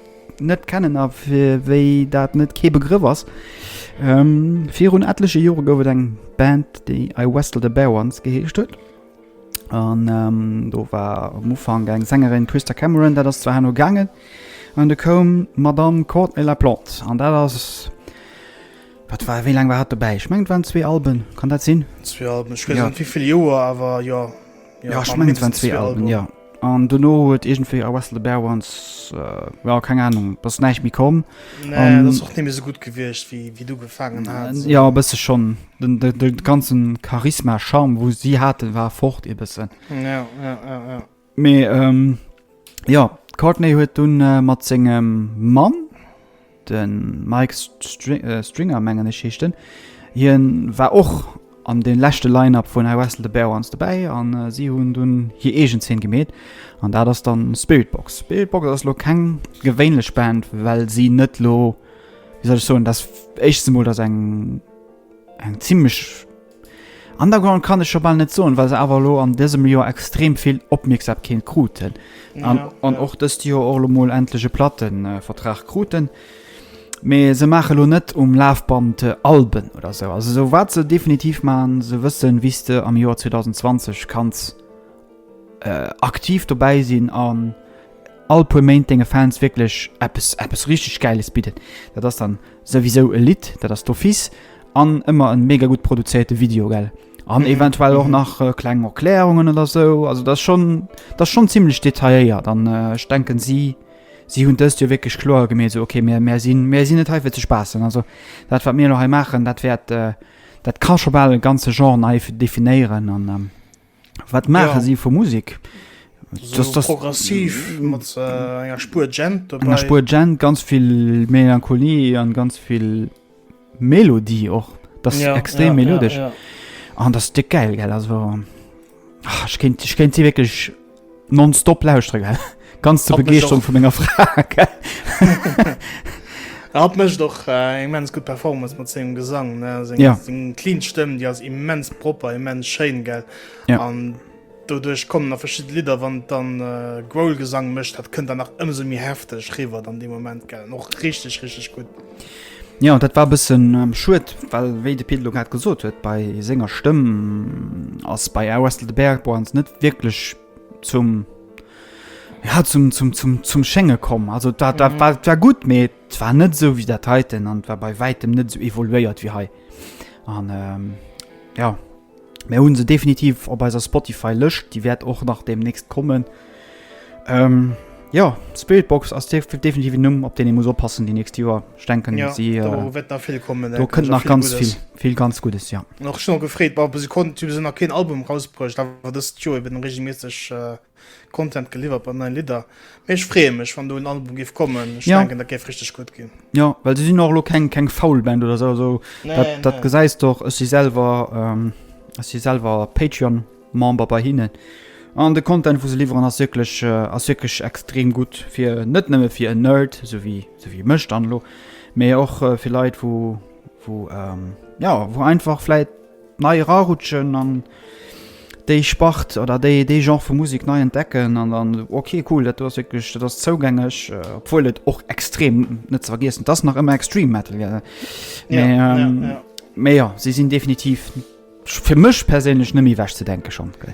net kennen a fir wéi dat net kee Begrëff ass, virun etleche Jore gouf et eng Band déi I Westled a Bear Once geheescht huet an do war um Ufank eng Sängerin Christa Cameron, dat ass zwar herno gaangen an du koum d'Madame Courtney LaPlante an dat ass, wat war, wéi laang war hatt dobäi? Ech mengen et waren zwee Alben, kann dat sinn? Zwee Alben, ech weess net wéivill Joer awer jo. Jo, ech mengen et waren zwee Alben, jo. An dono huet iergendwéi I Wrestle the Bear Once, jo, keng Anung, et ass näischt méi komm. Nee, et ass och net méi esou gutt gewiescht, wéi du ugefaangen has. Jo, e bësse schonn. De ganzen Charisma, Charme, wou si haten, war fort e bëssen. Jo, jo, jo, jo. Mee. Jo, d'Courtney huet dunn mat sengem Mann, de Mike Stringer mengen ech heescht en, hien war och an deem leschte Line-Up vun I Wrestled a Bear Once dobäi an si hunn dunn hir eegen Zeen gemeet an dat ass dann Spiritbox. Spiritbox ass elo keng gewéinlech Band, well si net elo, wéi soll ech soen, dat éischtst emol dat eng zimlech, Underground kann ech scho bal net soen, well se awer elo an dësem Joer extrem vill Opmierksamkeet kruten an och dëst Joer och elo mol endlech e Plattevertrag kruten. Mee se maache elo net um Lafband Alben oder esou. Also esou wat se definitiv maachen, se wëssen, wéi s de am Joer 2020 kanns aktiv dobäi sinn an all puer Méint denge Fans wierklech eppes eppes richteg Gäiles bidden. Dat ass dann souwisou e Lidd, dat ass d'office, an ëmmer e mega gutt produzéierte Video, gell? An eventuell och nach kleng Erklärungen oder esou. Also dat ass schonn, dat ass schonn zimmlech detailléiert an ech denken, si si hunn dëst jo wierklech kloer gemeet, esou ok mir mir sinn mir sinn net hei fir ze spaassen. Also dat wat mir elo hei maachen, dat wäert dat ka scho bal e ganze Genre nei definéieren an. Wat maache si vu Musik? Progressiv mat enger Spuer Gent dobäi. Enger Spuer Gent, ganz vill Melancholie an ganz vill Melodie och. Dat ass extrem melodesch. An dat ass déck gäil, gell? Also, ech kéint si wierklech Nonstop lauschteren, gell? Ganz zur Begeeschterung vun menger Fra, gell? Er hat mécht och äh, immens gutt Performance mat sengem Gesang, ne? Seng, ja. seng clean Stëmm, déi ass immens propper, immens schéin, gell? Ja. An doduerch kommen nach verschidde Lidder, wann dann äh, Growl-Gesang mécht, dat kënnt dann nach ëmsou méi hefteg riwwer dann de Moment, gell? Noch richtig, richtig gutt. Ja, dat war bëssen ähm, schued, well wéi de Pit lo grad gesot huet, bei senger Stëmm ass bei Air Westel de Berg bei uns net wierklech zum ja, zum, zum, zum, zum Schénge komm. Also dat, dat, mhm. war, dat war gut, mee et war net so wie dat heiten an war bei wäitem net so evoluéiert wie hei. An ähm, ja. Mär hunn se definitiv op eiser Spotify Lëscht, déi wäert och nach demnächst kommen. Ähm, ja, Spiritbox ass definitiv en Numm, op deen ee muss oppassen déi nächst Joer. Ich denken ja, si, äh, do wett nach vill kommen. Do kënnt nach ganz vill, vill ganz Gutes ja. Nach schon gefreet, wa se konnten se nach keen Album rausbruecht, awer dëst Joer eben regelméisseg. Äh, Content geliwwert mat neien Lidder. Mee ech freeë mech wann do en Album géif kommen. Ech ja. denken dat géif richteg gutt ginn. Ja, well se sinn och elo keng keng faul Band oder sou also, nee, dat, nee. dat gesäis doch ech si selwer ähm, ech si selwer Patreon Member bei hinnen. An de Content vu se liwweren ass wirklich äh, ass wirklich extrem gut fir net nëmme fir en Nerd so wie so wie mëcht anlo, mee och äh, fir Leiit wo wo ähm, ja wo einfach fläit nei erarutschen an déi Spart oder déi dee Genre vu Musek nei entdecken an dann ok cool dat do ass wierklech dat ass zougängeg, obwuel et och extrem net ze vergiessen et ass nach ëmmer extreme metal gell mee Ja, ja, ja. mee jo si sinn definitiv fir mech perséinlech net méi ewech ze denke schonn gell.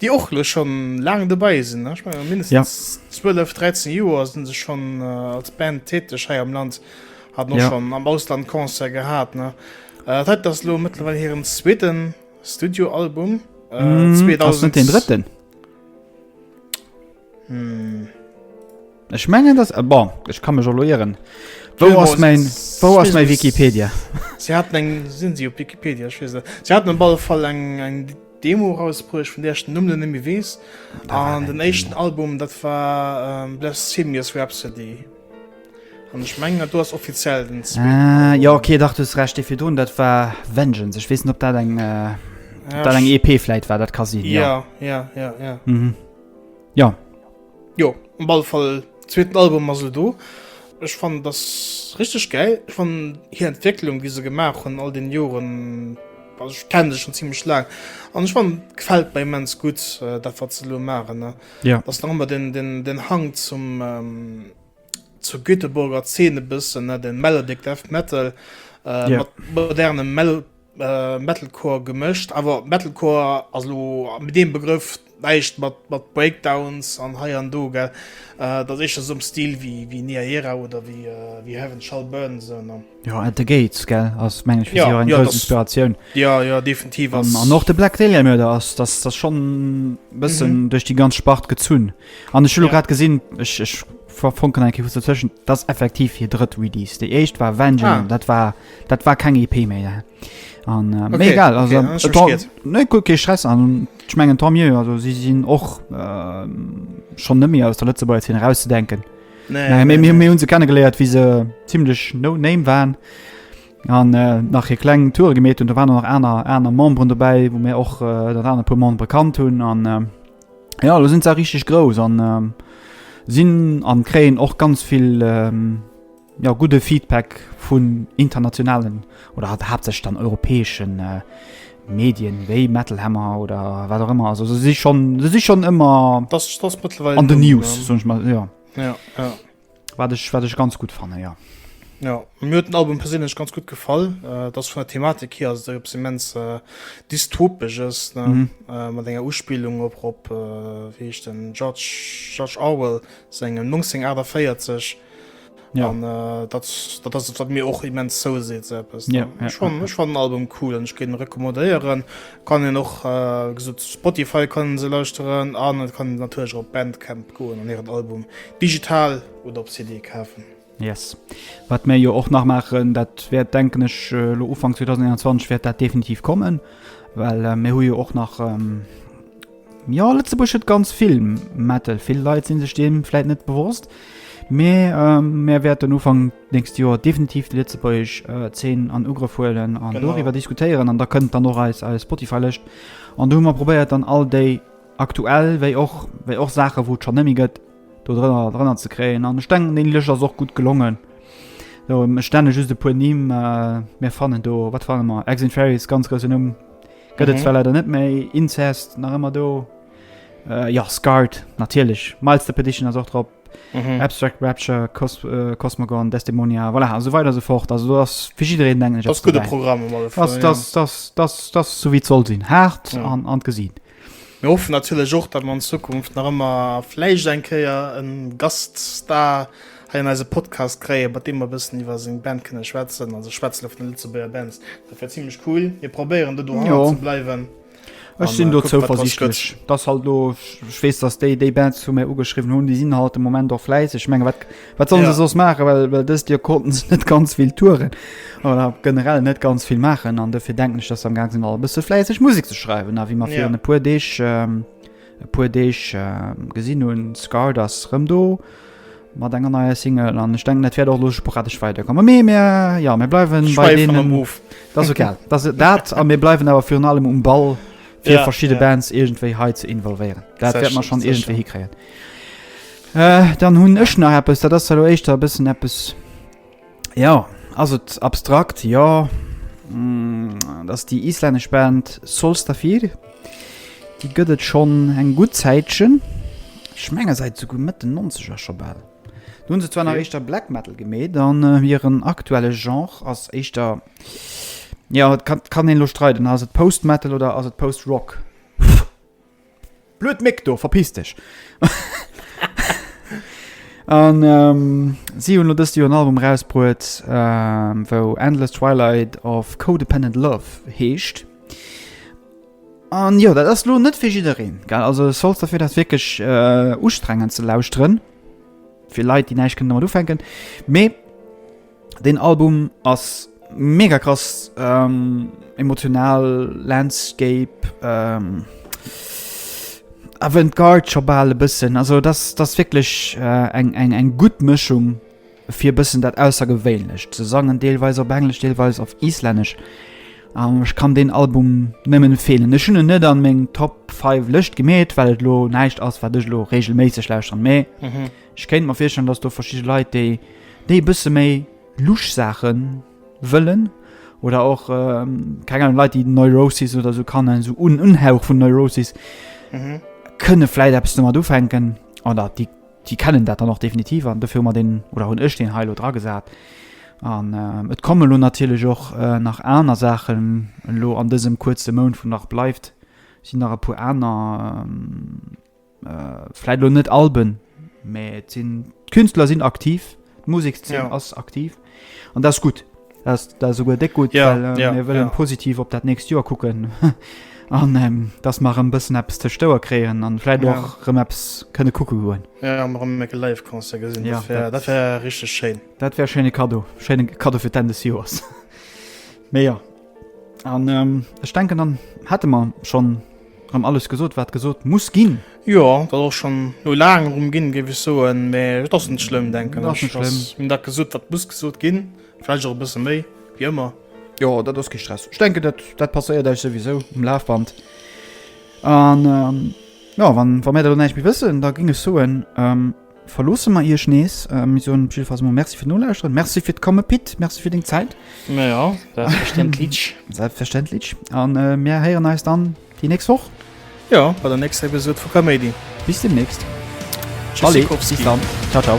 déi och lech schon laang dobei sinn, ech menge mindestens 12, 13 Joer sinn se schon als Band täteg hei am Land, hat och schon am Ausland Concert gehat ne. Dat hei ass lo mëttlerweil hiren zweeten Studioalbum, 2000 den drëtten. Hm. Ech mengen dass äh, bon, ech kann mech elo ieren. Wou Filmos- ass mein wou ass mein Wikipedia? Sie hatten eng sinn si op Wikipedia ich weiß nicht. Sie hatten am alle Fall eng eng Demo rausbruecht vun der ich den Numm net méi wees. Da war An eng den Demo. éischten Album dat war ähm, Blasphemious Rhapsody. An ich mengen dat do ass offiziell den zweeten Ah, Album. ja okay, dach du hues recht, dee virdrun dat war Vengeance. Ech weess net op dat eng äh, Ja, dat eng EP vläit war, dat ka sinn, ja. ja, ja, ja, ja. Mhm. Ja. Jo, um ball Fall zweeten Album ass lo do. Ech fannen dass richteg geil. Ech fannen hir Entwécklung wéi se gemaach hunn all den Joren, also ech kennen se schon ziemlech laang an ech fannen gefällt mer immens gutt äh, dat wat ze lo machen ne ja. dass nach ëmmer den den den Hang zum ähm, zur Göteborger Szene bëssen ne den Melodic Death Metal äh, ja. modernem Mel Metalcore gemëscht, awer Metalcore ass elo mat deem Begrëff näischt mat mat Breakdowns an hei an do gell, dat ass éischter esou am Stil wéi wéi Nia Era oder wéi wéi Heaven Shall Burn esou ne. Jo At The Gates gell ass meng ech fir si och eng grouss Inspiratioun. Jo jo definitiv ass. An och de Black Dahlia Murder ass dat ass schonn e bëssen duerch déi ganz Spart gezunn. An ech hu lo grad gesinn, ech ech verfonken eng Kéier kuerz dozwëschen, dat ass effektiv hir drëtt Release. Déi éischt war Vengeance, dat war Dat war keng EP méi. An äh, okay, egal okay, okay, net gut ge Stress an schmengen Tom also si sinn och äh, schon nëmi aus der Lëtze bei hin rauszudenken. Nee, nee, nee, nee. hun se kennen geleiert wie se ziemlichlech no name waren an äh, nach hier klengen Tour gemet und da waren noch einer einer Mom run dabei wo mir och äh, dat an pu Mon bekannt hunn an äh, ja du sind ze richtig groß an äh, sinn an kräen och ganz viel äh, jo, gudde Feedback vun internationalen oder hat haaptsächlich dann europäeschen äh, Medien wéi Metal Hammer oder wat auch immer. Also se si schon, se si schon ëmmer Das, das mittlerweile an den News, sag ich mal, ja. Ja, ja. Wat ech, wat ech ganz gut fanne, ja. Ja, mir huet den Album persinnlech ganz gut gefall. Äh, dass vun der Thematik hier ass der immens äh, dystopisches ne? Mhm. Äh, mat enger Uspielung op op äh, wie ich den George George Orwell sengem 1948 Ja. An äh, dat, dat ass et, wat mir och immens zou seet se eppes. Ja, ja, Ech fan- ja. ech fan den Album cool an ech géint en recommandéieren. Kann een och äh, gesot Spotify kann se lauschteren an et kann natierlech op Bandcamp goen an hiren Album digital oder op CD kafen. Yes. Wat mir jo och nach machen, dat wäert denken ech äh, lo Ufang 2021 wäert dat definitiv kommen, well äh, mir hu jo och nach ähm, Jo, Lëtzebuerg huet ganz vill Metal. Vill Leit sinn sech deem vläit net bewosst. Mee ähm, mär wäerten Ufank nächst Joer definitiv de Lëtzebuerg äh, 10 an Ugrëff huelen an genau. doriwwer diskutéieren an da kënnt dann och eis eis Spotify-Lëscht. An du hu mer probéiert dann all déi aktuell wéi och wéi och Sache wou schon nemmi gëtt do drënner drënner ze kréien an Steng den Lëcher ass och gut gelongen. So, stänne just e puer Nimm äh, mir fannen do wat fannen mer Exit Ferries ganz grouse Numm Gëtt et zwar leider net méi, Incest nach ëmmer do, jo Scarred natierlech, Miles the Petition ass och drop, Abstract Rapture, Cosmogon, Desdemonia, voilà, esou weider esou fort. Also do ass fir jiddereen meng ech eppes dobäi. Dat ass sou wéi et soll sinn, haart an gesinn. Mir hoffen natierlech och, datt mer an Zukunft nach ëmmer vläicht eng Kéier e Gaststar Hei an eise Podcast kréie mat deem mer e bëssen iwwer seng Band kënne schwätzen. Also ech schwätze lo vun de Lëtzebuerger Bands. Dat wär zimlech cool. Mir probéieren do dohanner Jo. ze bleiwen. Ech An, sinn äh, do kucken, wat draus zouversichtlech, gëtt. dass halt lo, ech weess, dass déi déi Bands zu mir ugeschriwwen hunn, déi sinn halt de Moment och fläisseg. Ech menge wat wat sollen se Ja. soss maachen, well well dëst Joer konnten se net ganz vill touren oder generell net ganz vill maachen an dofir denken ech, dass se am gaang sinn all e bësse fläisseg Musek ze schreiwen a wéi mer Ja. virun e puer Deeg ähm, e puer Deeg gesinn hunn. Scarred ass rëm do mat enger neier Single an ech denken dat wäert och lo sporadesch weiderkomme mee mir ja mir bleiwen bei deenen Move dat ass egal dat dat a mir bleiwen awer virun allem um Ball fir ja, verschidde ja. Bands iergendwéi hei ze involvéieren dat wäert man schon iergendwéi hikréien äh, dann hunn ech nach eppes dat ass hallo éischter bëssen eppes Jo, ass et abstrakt? Jo, dat ass déi islännesch Band Solstafir. Déi gëtt et schonn eng gutt Zäitchen, ech menge säit esouguer Mëtt den Nonzeger scho bal. Do hunn se zwar nach éischter Black Metal gemeet an hiren aktuelle Genre ass éischter, jo, et kann een elo streiden, ass et Post-Metal oder ass et Post-Rock? Blöd Méck do, verpiss dech! An si hunn elo dëst Joer en Album erausbruet, wou Endless Twilight of Co-Dependent Love heescht. An jo, dat ass elo net fir jiddereen, gell? Also Solster fir dat wierklech ustrengend ze lauschteren, fir Leit, déi näischt kënnen domat ufänken. Mee Den Album ass mega krass ähm, emotional, Landscape, ähm, Avantgarde scho bal e bëssen. Also das, das wirklich äh, eng, eng, eng gut Mëschung fir e bëssen dat aussergewéinlech ze sangen, deelweis op Englisch, deelweis auf Islännesch. Um, ich kann den Album nëmmen fehlen Ech hun net an meng Top 5 Lëcht gemet, well et lo näicht ass wat dech lo regelméisseg lauscht an méi. Mhm. Ech kéint mer virstellen, dass do verschidde Leit, déi e bësse méi lusch Saache wëllen, oder och keng Ahnung, Leit, déi Neurosis oder sou kann en sou un Unhauch vun Neurosis mhm. kënne vläit eppes domat ufänken oder déi déi kennen dat dann noch definitiv an dofir mat den oder hunn ech den Heilo dra gesat. An äh, et komme lo natierlech och äh, nach aner Saachen lo an dësem kuerze Mound vun nach bleift, sinn nach e puer aner. Äh, Vläit elo net Alben, mä et sinn, d'Künstler sinn aktiv, d'Musekszeen ja. ass aktiv. An dat ass gutt. Dat ass souguer déck gutt, ja, well äh, ja, mir wëllen ja. positiv op dat nächst Joer kucken. an ähm, dass mar ëm bëssen Apps ze stouer kreien an fläit och ja. rëm Apps kënne kucke goen. Ja rëm mé live Konzer gesinn ja, dat wär richchte Schein. Dat wär schene Kado Schene Kado fir Tennis Joers. Meier. An ähm, ech denken dann hätte man schon rem alles gesot wat gesot muss ginn. Jo dat och schon no lagen rum ginn géif ech soen, mä et ass net schlëmm denken dat net schlëmm. Min dat gesot wat muss gesot ginn, vläicht och e bësse méi wie ëmmer. Jo dat ass kee Stress, ech denken dat dat passéiert eis souwisou um Lafband. An ähm, jo wann wa mär der lo näischt méi wëssen, da ging ech soen ähm, Verloosse mer Iech nees. Mir soen op jidde Fall emol Merci fir d'Nolauschteren. Merci fir d'Komme Pit. Merci fir deng Zäit. Na ja, selbstverständlich. Selbstverständlich. A mir héieren eis dann déi nächst Woch. Jo, bei der nächster Episod vu Kaméidi. Bis deemnächst. Tschüssikowski. Bis dann. Ciao, ciao.